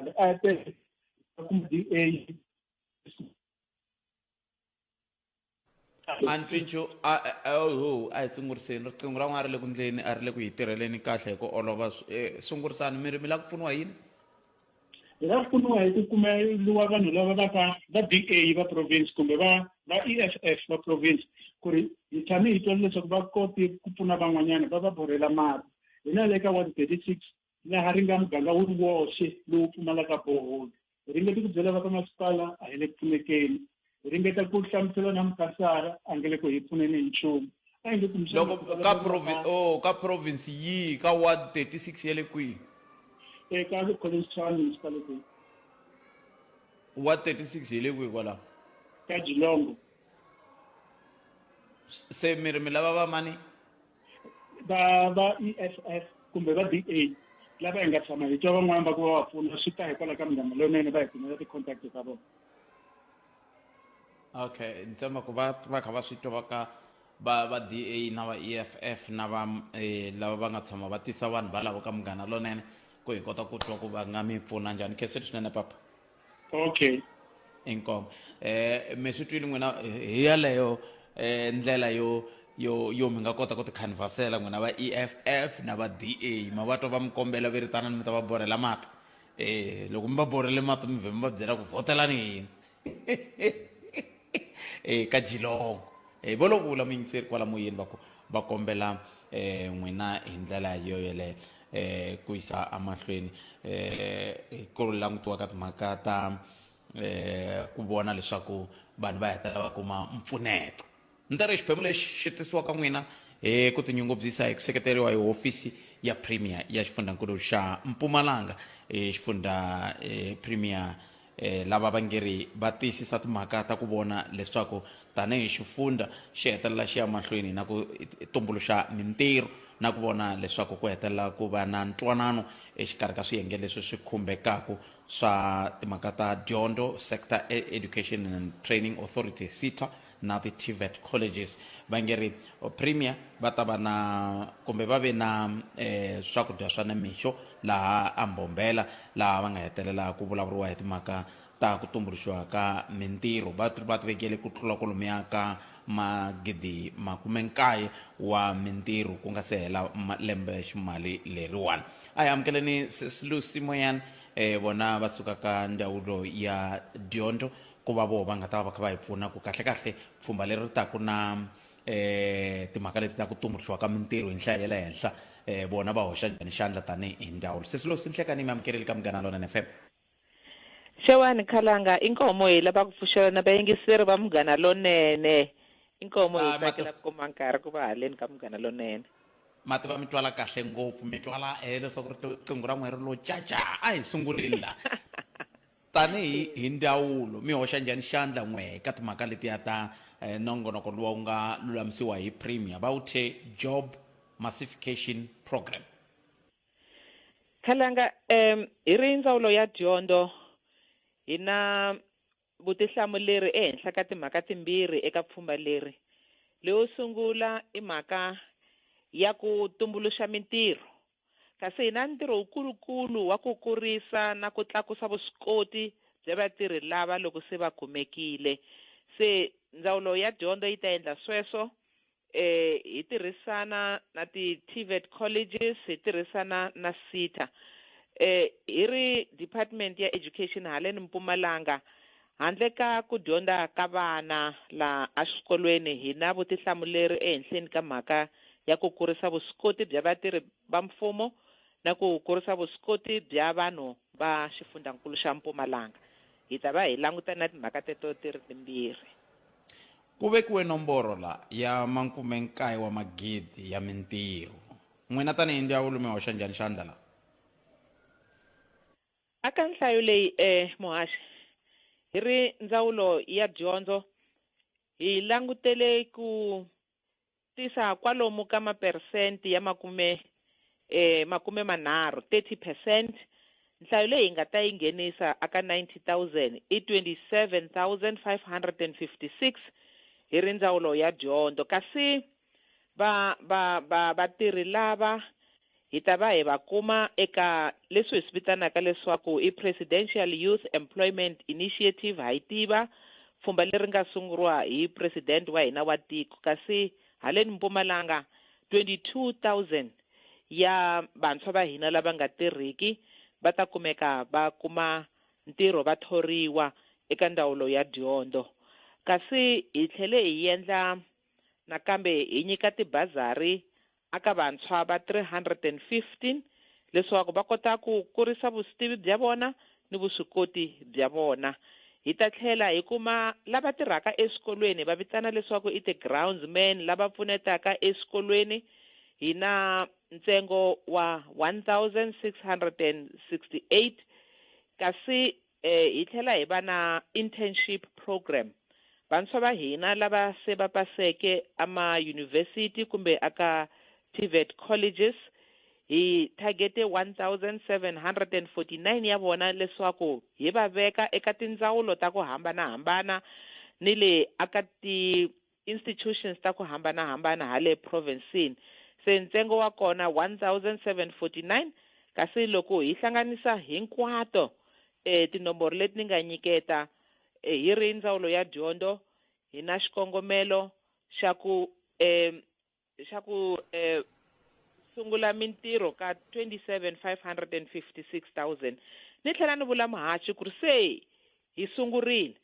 al'aadee akkuma di'ee antswintshu a hi sunguriseni riqingho ra n'wana ri le ku ndleni a ri le ku yi tirheleni kahle hi ku olova Sw- eh, sungurisani mi ri mi la ku pfuniwa yini hi nga pfuniwa hi ku kumeliwa vanhu lava va ka va d a va province kumbe va va e f f va province ku ri hi tshame hi twele leswaku va kote ku pfuna van'wanyana va va borhela mati hina le ka one thirty six laha ri nga muganga wu ri woxe lowu pfumalaka boholo. Hi ringete ku byela va ka masipala a hi le ku pfunekeni. Hi ringeta ku hlamusela na mukhansara a nge le ku hi pfuneni hi nchumu. A hi nge kumbexana Loko ku ka vulavuriwa provi, mhaka oh, ka province yihi, ka ward 36 ya le kwihi? eka Collins Town Municipality Ward 36 hi le kwihi kwalaho? ka Jilongo. S- Se mi ri mi lava va mani? va va EFF kumbe va DA lava hi nga tshama hi twa van'wana va ku va va pfuna swi ta hikwalaho ka minghana leyinene va hi kumela ti-contact ta vona okay ni tshemba ku va va kha va swi twa ka va va DA na va EFF na va eh, lava va nga tshama va tisa vanhu valavo ka munghana lonene ku hi kota ku twa ku va nga mi pfuna njhani kheseri swinene papa okay inkomo eh mi swi twile n'wina hi yaleyo eh ndlela yo yo yo mi nga kota ku tikhanvasela n'wina va eff na va da ma va twa va mi kombela ve ritana ni mi ta va borhela mati eh loko mi va borhele mati mi vhe mi va byela ku vhotelani yini e ka jilongo e vo lo vula muyingiseri kwala moyeni va ku va kombela um n'wina hi ndlela yo yeleyo um ku yisa emahlweni um ku langutiwa ka timhaka ta um ku vona leswaku vanhu va hetelela va kuma mpfuneto ni ta ri xiphemu lexi xi tisiwaka n'wina hi ku tinyungubyisa hi ku seketeriwa hi hofisi ya premier ya xifundzankulu xa mpumalanga hi xifundza premier Lava va nge ri va tiyisisa timhaka ta ku vona leswaku tanihi xifundza xi hetelela xi ya mahlweni na ku tumbuluxa mintirho na ku vona leswaku ku hetelela ku va na ntwanano exikarhi ka swiyenge leswi swi khumbekaku swa timhaka ta dyondzo sector e-, education and training authority sita na ti tvet colleges va nge ri premier va ta va na kumbe va ve na eh, swakudya swa nimixo laha ambombela laha va nga hetelela ku vulavuriwa hi timhaka ta ku tumbuluxiwa ka mintirho va va ti vekele ku tlula kolomiya ka magidi makume nkaye wa mintirho ku nga se hela lembe ximali leriwani a hi amukeleni sesilusi moyani um eh, vona va suka ka ndzawulo ya dyondzo ku va voho va nga ta va va kha va hi pfuna ku kahlekahle pfhumba leri ri taku na um timhaka leti ta ku tumbuluxiwa ka mintirho hi nhlayo ya le henhla um vona va hoxa njhani xandla tanihi hi ndawulo sesi losi nhlekani mi amukerile ka munghana lonene fm xewani khalanga i nkomo hi lava ku pfuxela na vayingiseri va munghana lonene i nkomo hi tsakela ku kuma nkarhi ku va haleni ka munghana lonene mati va mi twala kahle ngopfu mi twala um leswaku riqingho ra n'we ri lo caca a hi sunguleni la Tanihi hi ndzawulo, mi hoxa njhani xandla n'we ka timhaka letiya ta eh, nongonoko lowu wu nga lulamisiwa hi Premier va wu thye Job Massification Program? Khalanga, um, hi ri ndzawulo ya dyondzo hi na vutihlamuleri ehenhla ka timhaka timbirhi eka pfhumba leri. Leyo sungula i mhaka ya ku tumbuluxa mintirho kasi hi na ntirho wukulu-kulu wa ku kurisa na ku tlakusa vuswikoti bya vatirhi lava loko se va kumekile. Se Ndzawulo ya Dyondzo yi ta endla sweswo e hi tirhisana na ti-TVET colleges, hi tirhisana na SETA. E hi ri Department ya Education haleni Mpumalanga, Handle ka ku dyondza ka vana laha eswikolweni, hi na vutihlamuleri ehenhleni ka mhaka ya ku kurisa vuswikoti bya vatirhi va mfumo na ku kurisa vuswikoti bya vanhu va Xifundzankulu xa Mpumalanga. Hi ta va hi langutane na timhaka teto ti ri timbirhi. Ku vekiwe nomboro la ya makume-nkaye wa magidi ya mintirho. N'wina tanihi ndzawulo mi hoxa njhani xandla la? Aka nhlayo leyi e Muhaxi, hi ri Ndzawulo ya Dyondzo hi langutele ku tisa kwalomu ka maperesenti ya makume e makume manharhu, 30 percent. Nhlayo leyi hi nga ta yi nghenisa aka 90,000 i 27,556 hi ri Ndzawulo ya Dyondzo kasi. Va, va, va, vatirhi lava hi ta va hi va kuma eka leswi hi swi vitanaka leswaku i Presidential Youth Employment Initiative, ha yi tiva pfhumba leri nga sunguriwa hi President wa hina wa tiko. Kasi haleni Mpumalanga, 22,000 ya vantshwa va hina lava nga tirhiki va ta kumeka va kuma ntirho va thoriwa eka ndzawulo ya dyondzo. Kasi hi tlhele hi endla. Nakambe hi nyika tibazari aka vantshwa va 315 leswaku va kota ku kurisa vusitivi bya vona ni vuswikoti bya vona. Hi ta tlhela hi kuma lava tirhaka eswikolweni hi va vitana leswaku i ti grounds man lava pfunetaka eswikolweni hi na ntsengo wa 1668 kasi Hi tlhela hi va na internship program. Vantshwa va hina lava se va paseke amayunivhesiti kumbe aka TVET colleges, hi thagete 1,749 ya vona leswaku hi va veka eka tindzawulo ta ku hambanahambana ni le aka ti institutions ta ku hambana-hambana hale provinsini, se ntsengo wa kona 1749 kasi loko hi hlanganisa hinkwato e tinomboro leti ni nga nyiketa e hi ri ndzawulo ya dyondo hi na xikongomelo xa ku e leswaku eh, sungula mintirho ka 27,556,000 ni tlhela ni vula muhachi ku ri se hi sungurile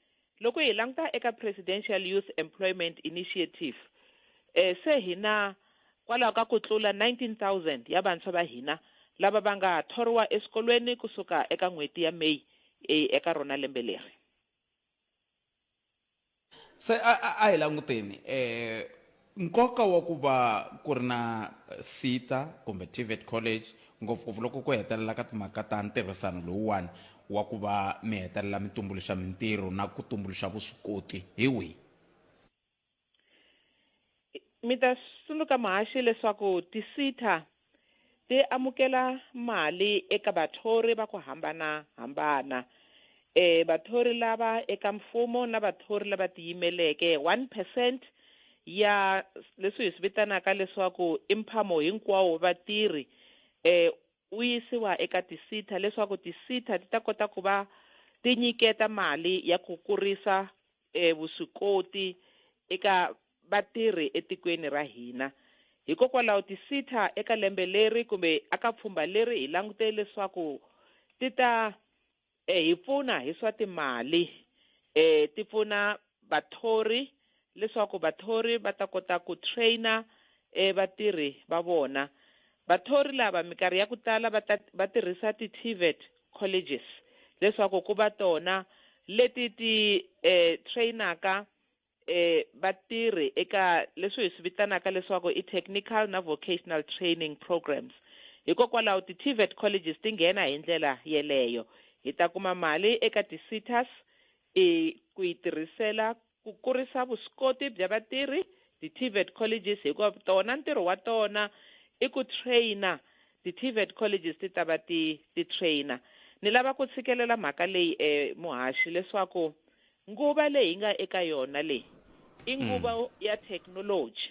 loko hi languta eka presidential youth employment initiative eh, se hi na kwalaho ka ku tlula 19000 ya vantshwa va hina lava va nga thoriwa eswikolweni kusuka eka n'hweti ya may eh, eka rona lembe leri Se a a a hi languteni eh nkoka wa ku va ku ri na SETA kumbe TVET college ngopfungopfu loko ku hetelela ka timhaka ta ntirhisano lowuwani wa ku va mi hetelela mi tumbuluxa mintirho na ku tumbuluxa vuswikoti hi wihi? mi ta tsundzuka muhaxi leswaku tisita ti amukela mali eka vathori va ku hambana-hambana e vathori lava eka mfumo na vathori lava tiyimeleke one percent ya leswi hi swi vitanaka leswaku i mphamo hinkwawo wa vatirhi um wu yisiwa eka tisita leswaku tisita ti ta kota ku va ti nyiketa mali ya ku kurisa e vuswikoti eka vatirhi etikweni ra hina. Hikokwalaho ti-SETA eka lembe leri kumbe aka pfhumba leri hi langute leswaku ti ta eh, hi pfuna hi swa timali eh, ti pfuna vathori leswaku vathori va ta kota ku traina eh, vatirhi va vona vathori lava minkarhi ya ku tala va ta- va tirhisa ti-tvet colleges leswaku ku va tona leti ti eh, trainaka eh, vatirhi eka leswi hi swi vitanaka leswaku i technical na vocational training programs hikokwalaho ti-tvet colleges ti nghena hi ndlela yeleyo hi ta kuma mali eka ti-citas i ku yi tirhisela Ku kurisa vuswikoti bya vatirhi, ti TVET colleges hikuva tona ntirho wa tona i ku trainer, ti TVET colleges ti ta va ti ti trainer. Ni lava ku tshikelela mhaka leyi e muhaxi leswaku nguva leyi hi nga eka yona leyi i nguva ya technology.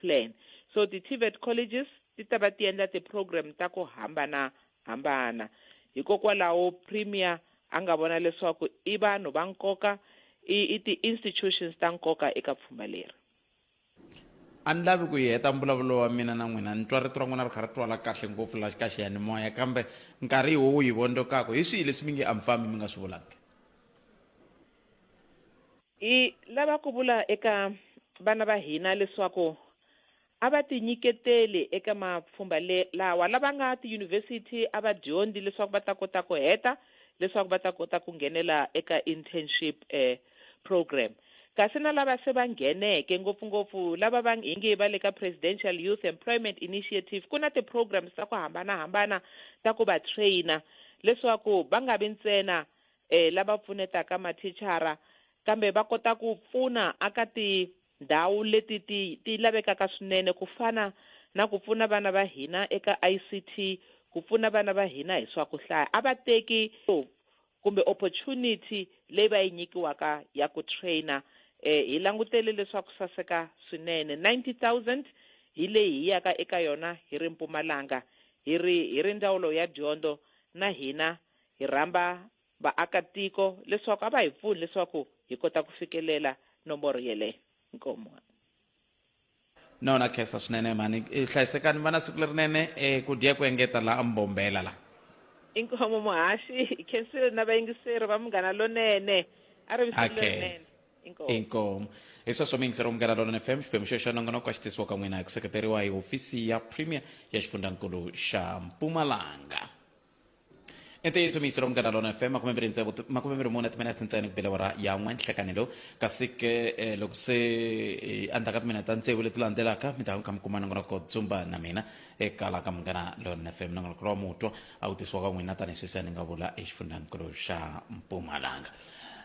Plan. So ti-TVET colleges ti ta va ti endla ti-program ta ku hambana-hambana. Hikokwalaho Premier a nga vona leswaku i vanhu va nkoka, i i ti-institutions ta nkoka eka pfhumba leri. A ni lavi ku yi heta mbulavulo wa mina na n'wina, ni twa rito ra n'wina ri kha ri twala kahle ngopfu la ka xiyanimoya, kambe nkarhi hi wo wu hi vondokaku. Hi swihi leswi mi nge a mi fambi mi nga swi vulangi? Hi lava ku vula eka vana va hina leswaku a va tinyiketeli eka mapfhumba le lawa. Lava nga tiyunivhesiti a va dyondzi leswaku va ta kota ku heta leswaku va ta kota ku nghenela eka internship program. Kasi na lava se va ngheneke, ngopfu-ngopfu lava va hi nge va le ka Presidential Youth Employment Initiative, ku na ti-programs ta ku hambana-hambana ta ku va trainer leswaku va nga vi ntsena e, lava pfunetaka mathichara kambe va kota ku pfuna aka tindhawu leti ti ti lavekaka swinene ku fana na ku pfuna vana va hina eka ICT ku pfuna vana va hina hi swa ku hlaya a va teki kumbe opportunity leyi va yi nyikiwaka ya ku trainer eh, hi langutele leswaku saseka swinene 90000 hi leyi hi yaka eka yona hi ri mpumalanga hi ri hi ri ndzawulo ya dyondzo na hina Hi rhamba vaakatiko leswaku a va hi pfuni leswaku hi kota ku fikelela nomboro yeleyo. Inkomu. No na khensa swinene mhani eh, hlayisekani va na siku lerinene eh, ku dya ku engeta la mbombela la Inkomu muhaxi, hi khensile na vayingiseri va Munghana Lonene. A ri vi siku Okay. lerinene. Inkomu. inkomu hi sweswo mi yingiseriwa munghana lonene fm xiphemu xexo xa nongonoko a xi tisiwa ka n'wina hi ku seketeriwa hi hofisi ya premier ya xifundankulu xa mpumalanga ntiyiso miyiselo munghana lona fm makume mbirhi ntsevu makume mbirhi mune timinete ntsena ku belewa ra ya n'we nhlekani lowu kasi ke eh, loko se eh, endzhaku ka timinete ta ntsevu leti landzelaka mi ta kha mi kuma nangona ko dzumba na mina eka la ka munghana lona fm nangona ku lowa mutwa a wu tisiwa ka n'wina tanihi sweswi a ni nga vula exifundzanikulu xa mpumalanga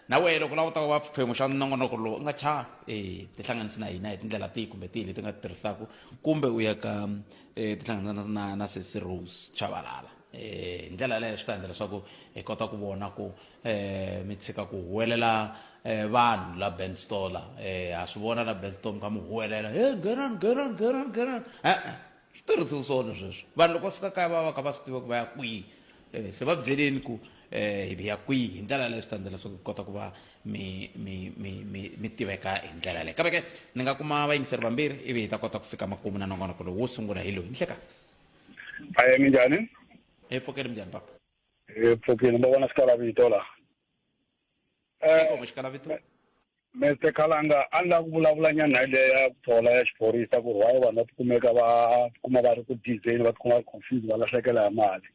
na wehe loko lava u ta va xiphemu xa nongonoko lowu u nga cha um tihlanganisi na hina hi tindlela tihi kumbe tihi leti nga ti tirhisaka kumbe u ya ka e tihlangana na na sesi rose chavalala e ndlela yaleyo swi ta endla leswaku hi kota ku vona ku um mi tshika ku huwelela um vanhu la band stola um ha swi vona la band store mi kha mi huwelela he geran geran geran geran e-e swi tirhisiwi swona sweswo vanhu loko va suka kaya va va kha va swi tiva ku va ya kwihi um se va byeleni ku um hi ya kwihi hi ndlela yaleyo swi ta endla leswaku hi kota ku va mi mi mi mi mi tiveka hi ndlela leyi kambe ke ni nga kuma vayingiseri vambirhi ivi hi ta kota ku fika makumu na nongonoko lowu wo sungula hi loyi nhleka aye minjhani hi pfukeli minjhani papa hi pfukile ndo vona xikala vito la um eh, xikala vito Mr Khalanga a ni la ku vulavula nyana hi leya ku thola ya xiphorisa ku ri why vanhu va tikumeka va tikuma va ri ku dizeni va tikuma va ri confuse va lahlekela hi mali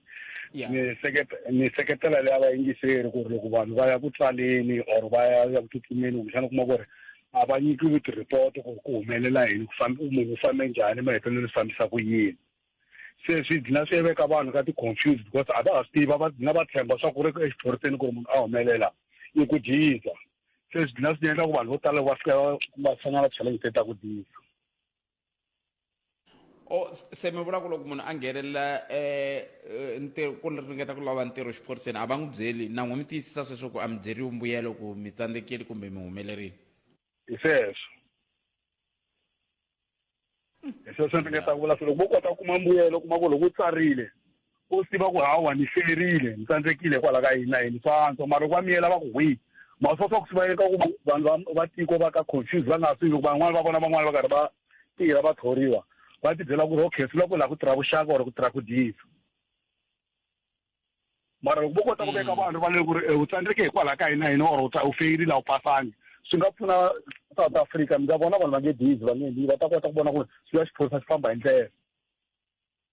Yeah. ni seketa ni seketela leya vayingiseri ku ri loko vanhu va ya ku tsaleni or va ya ya ku tsutsumeni kumbexana u kuma ku ri a va nyikiwi ti-report ku ri ku humelela yini ku fambe munhu u fambe njhani mahetelelo swi fambisa ku yini se swi dlina swi veka vanhu ka ti-confuse because a va ha swi tiva va dlina va tshemba swa ku ri exiphoriseni ku ri munhu a humelela i ku dyiza se swi dlina swi endla ku vanhu vo tala va fika va va hlangana challenge te ta ku dyiza o se mi vula ku loko munhu a nghenelela um ntirho ku ringeta ku lava ntirho xiphoriseni a va n'wi byeli na n'wi mi tiyisisa sweswo ku a mi byeriwi mbuyelo ku mi tsandzekile kumbe mi humelerile hi sweswo hi sweswo ni nga ta vula swi loko vo kota ku kuma mbuyelo kuma ku loko u tsarile Wo swi tiva ku hawa ni hlelerile ni tsandzekile hikwalaho ka yini na yini swa antswa mara loko va miyela va ku hwi ma swa swa ku swi va eka ku vanhu va tiko va ka confuse va nga swi loko van'wana va vona van'wana va karhi va tirha va thoriwa va ti byela ku ri okay swi la ku laha ku tirha vuxaka or ku tirha ku diyisa mara loko vo kota ku veka mm. vanhu va le ku ri eh, u tsandzeke hikwalaho ka yini na yini or u feyirile a wu pasangi swi nga pfuna south africa mi nga vona vanhu va nge dizi va nge va ta kota ku vona ku ri swi ya xiphorisa xi famba hi ndlela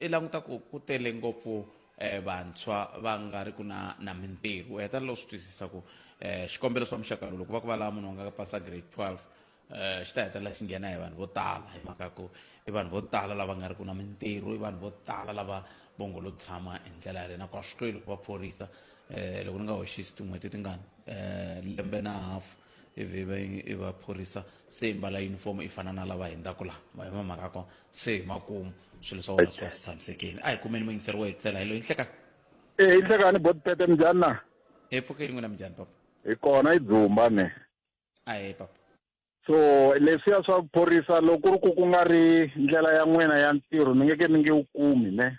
I languta ku ku tele ngopfu eh, vantshwa va nga ri ku na na mintirho u heta loko swi twisisa ku eh, xikombelo swa muxaka lowu loko va ku va lava munhu wa nga ka pasa grade 12 eh, xi ta hetelela xi nghena hi vanhu vo tala hi mhaka ku i vanhu vo tala lava nga ri ku na mintirho i vanhu vo tala lava vongo lo tshama hi ndlela yaleyo nakona swi tweli ku va phorisa eh, loko ni nga hoxisi tin'hweti tingani eh, lembe na half ivi va i va phorisa se mbala uniform i fana na lava hindzaka laha ma hi mhaka ko se hi makumu swilo swa wena swi va swi tshamisekile a hi kumeni muyingiseri wo hetisela hi loyi nhlekani e eh, nhlekani bodipete minjhani na hi pfukeli n'wina minjhani papa hi kona i dzumba ne a hi papa so leswiya swa ku phorisa loko ku ri ku ku nga ri ndlela ya n'wina ya ntirho mi nge ke mi nge wu kumi ne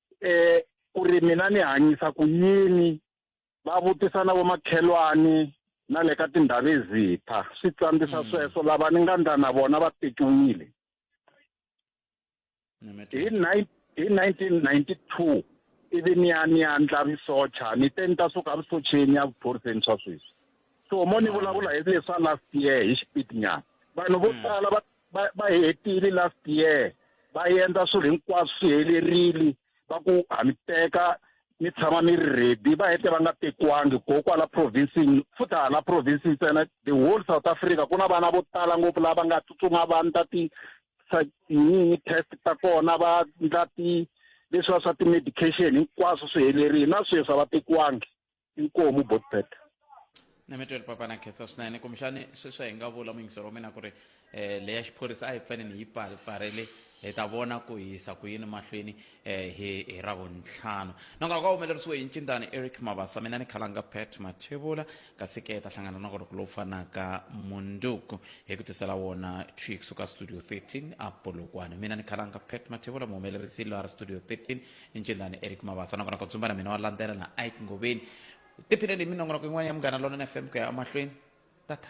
e ku ri mina ni hanyisa ku yini va vutisa na vomakhelwani na le ka tindhawu ezipha swi tsandisa mm. sweswo lava ni nga ndla na vona va tekiwile hi hi 1992 ivi ni ya ni ya ndla risocha ni te ni ta suka risocheni ya vuphoriseni swa sweswi so mo ni vulavula hi leswa last year hi xipitinyana vanhu vo mm. tala va va va hi hetile last year va endla swilo hinkwaswo swi helerile va ku ha mi teka mi tshama mi ri ready va hete va nga tekiwangi go kwala provincini futhi hala province ntsena the whole south africa ku na vana vo tala ngopfu lava nga tsutsuma va ndla ti yini test ta kona va ndla ti leswiwa swa ti-medication hinkwaswo swi helerile na sweswi a va tekiwangi inkomu botbet nemetweli papa na khetsa swinene kumbexani sweswi hi nga vula mungisero wa mina ku ri um eh, leyi ya xiphorisa a yi fanele yi pfarele hi ta vona ku hisa ku yini mahlweni um hi hi ravuntlhanu na nga ka humelerisiwe hi ncindani eric mavasa mina ni khalanga pet mathevula kasi ke ta hlangana na koroko lowu fanaka munduku hi ku tisela wona twi kusuka studio 13 apolokwane mina ni khalanga pet mathevula muhumelerisi lwari studio 13 incindani eric mavasa nakona ku tsumba na mina wa landzela na ike ngoveni tiphineni hi minongonoko yin'wana ya munghana lonene fm ku ya emahlweni tata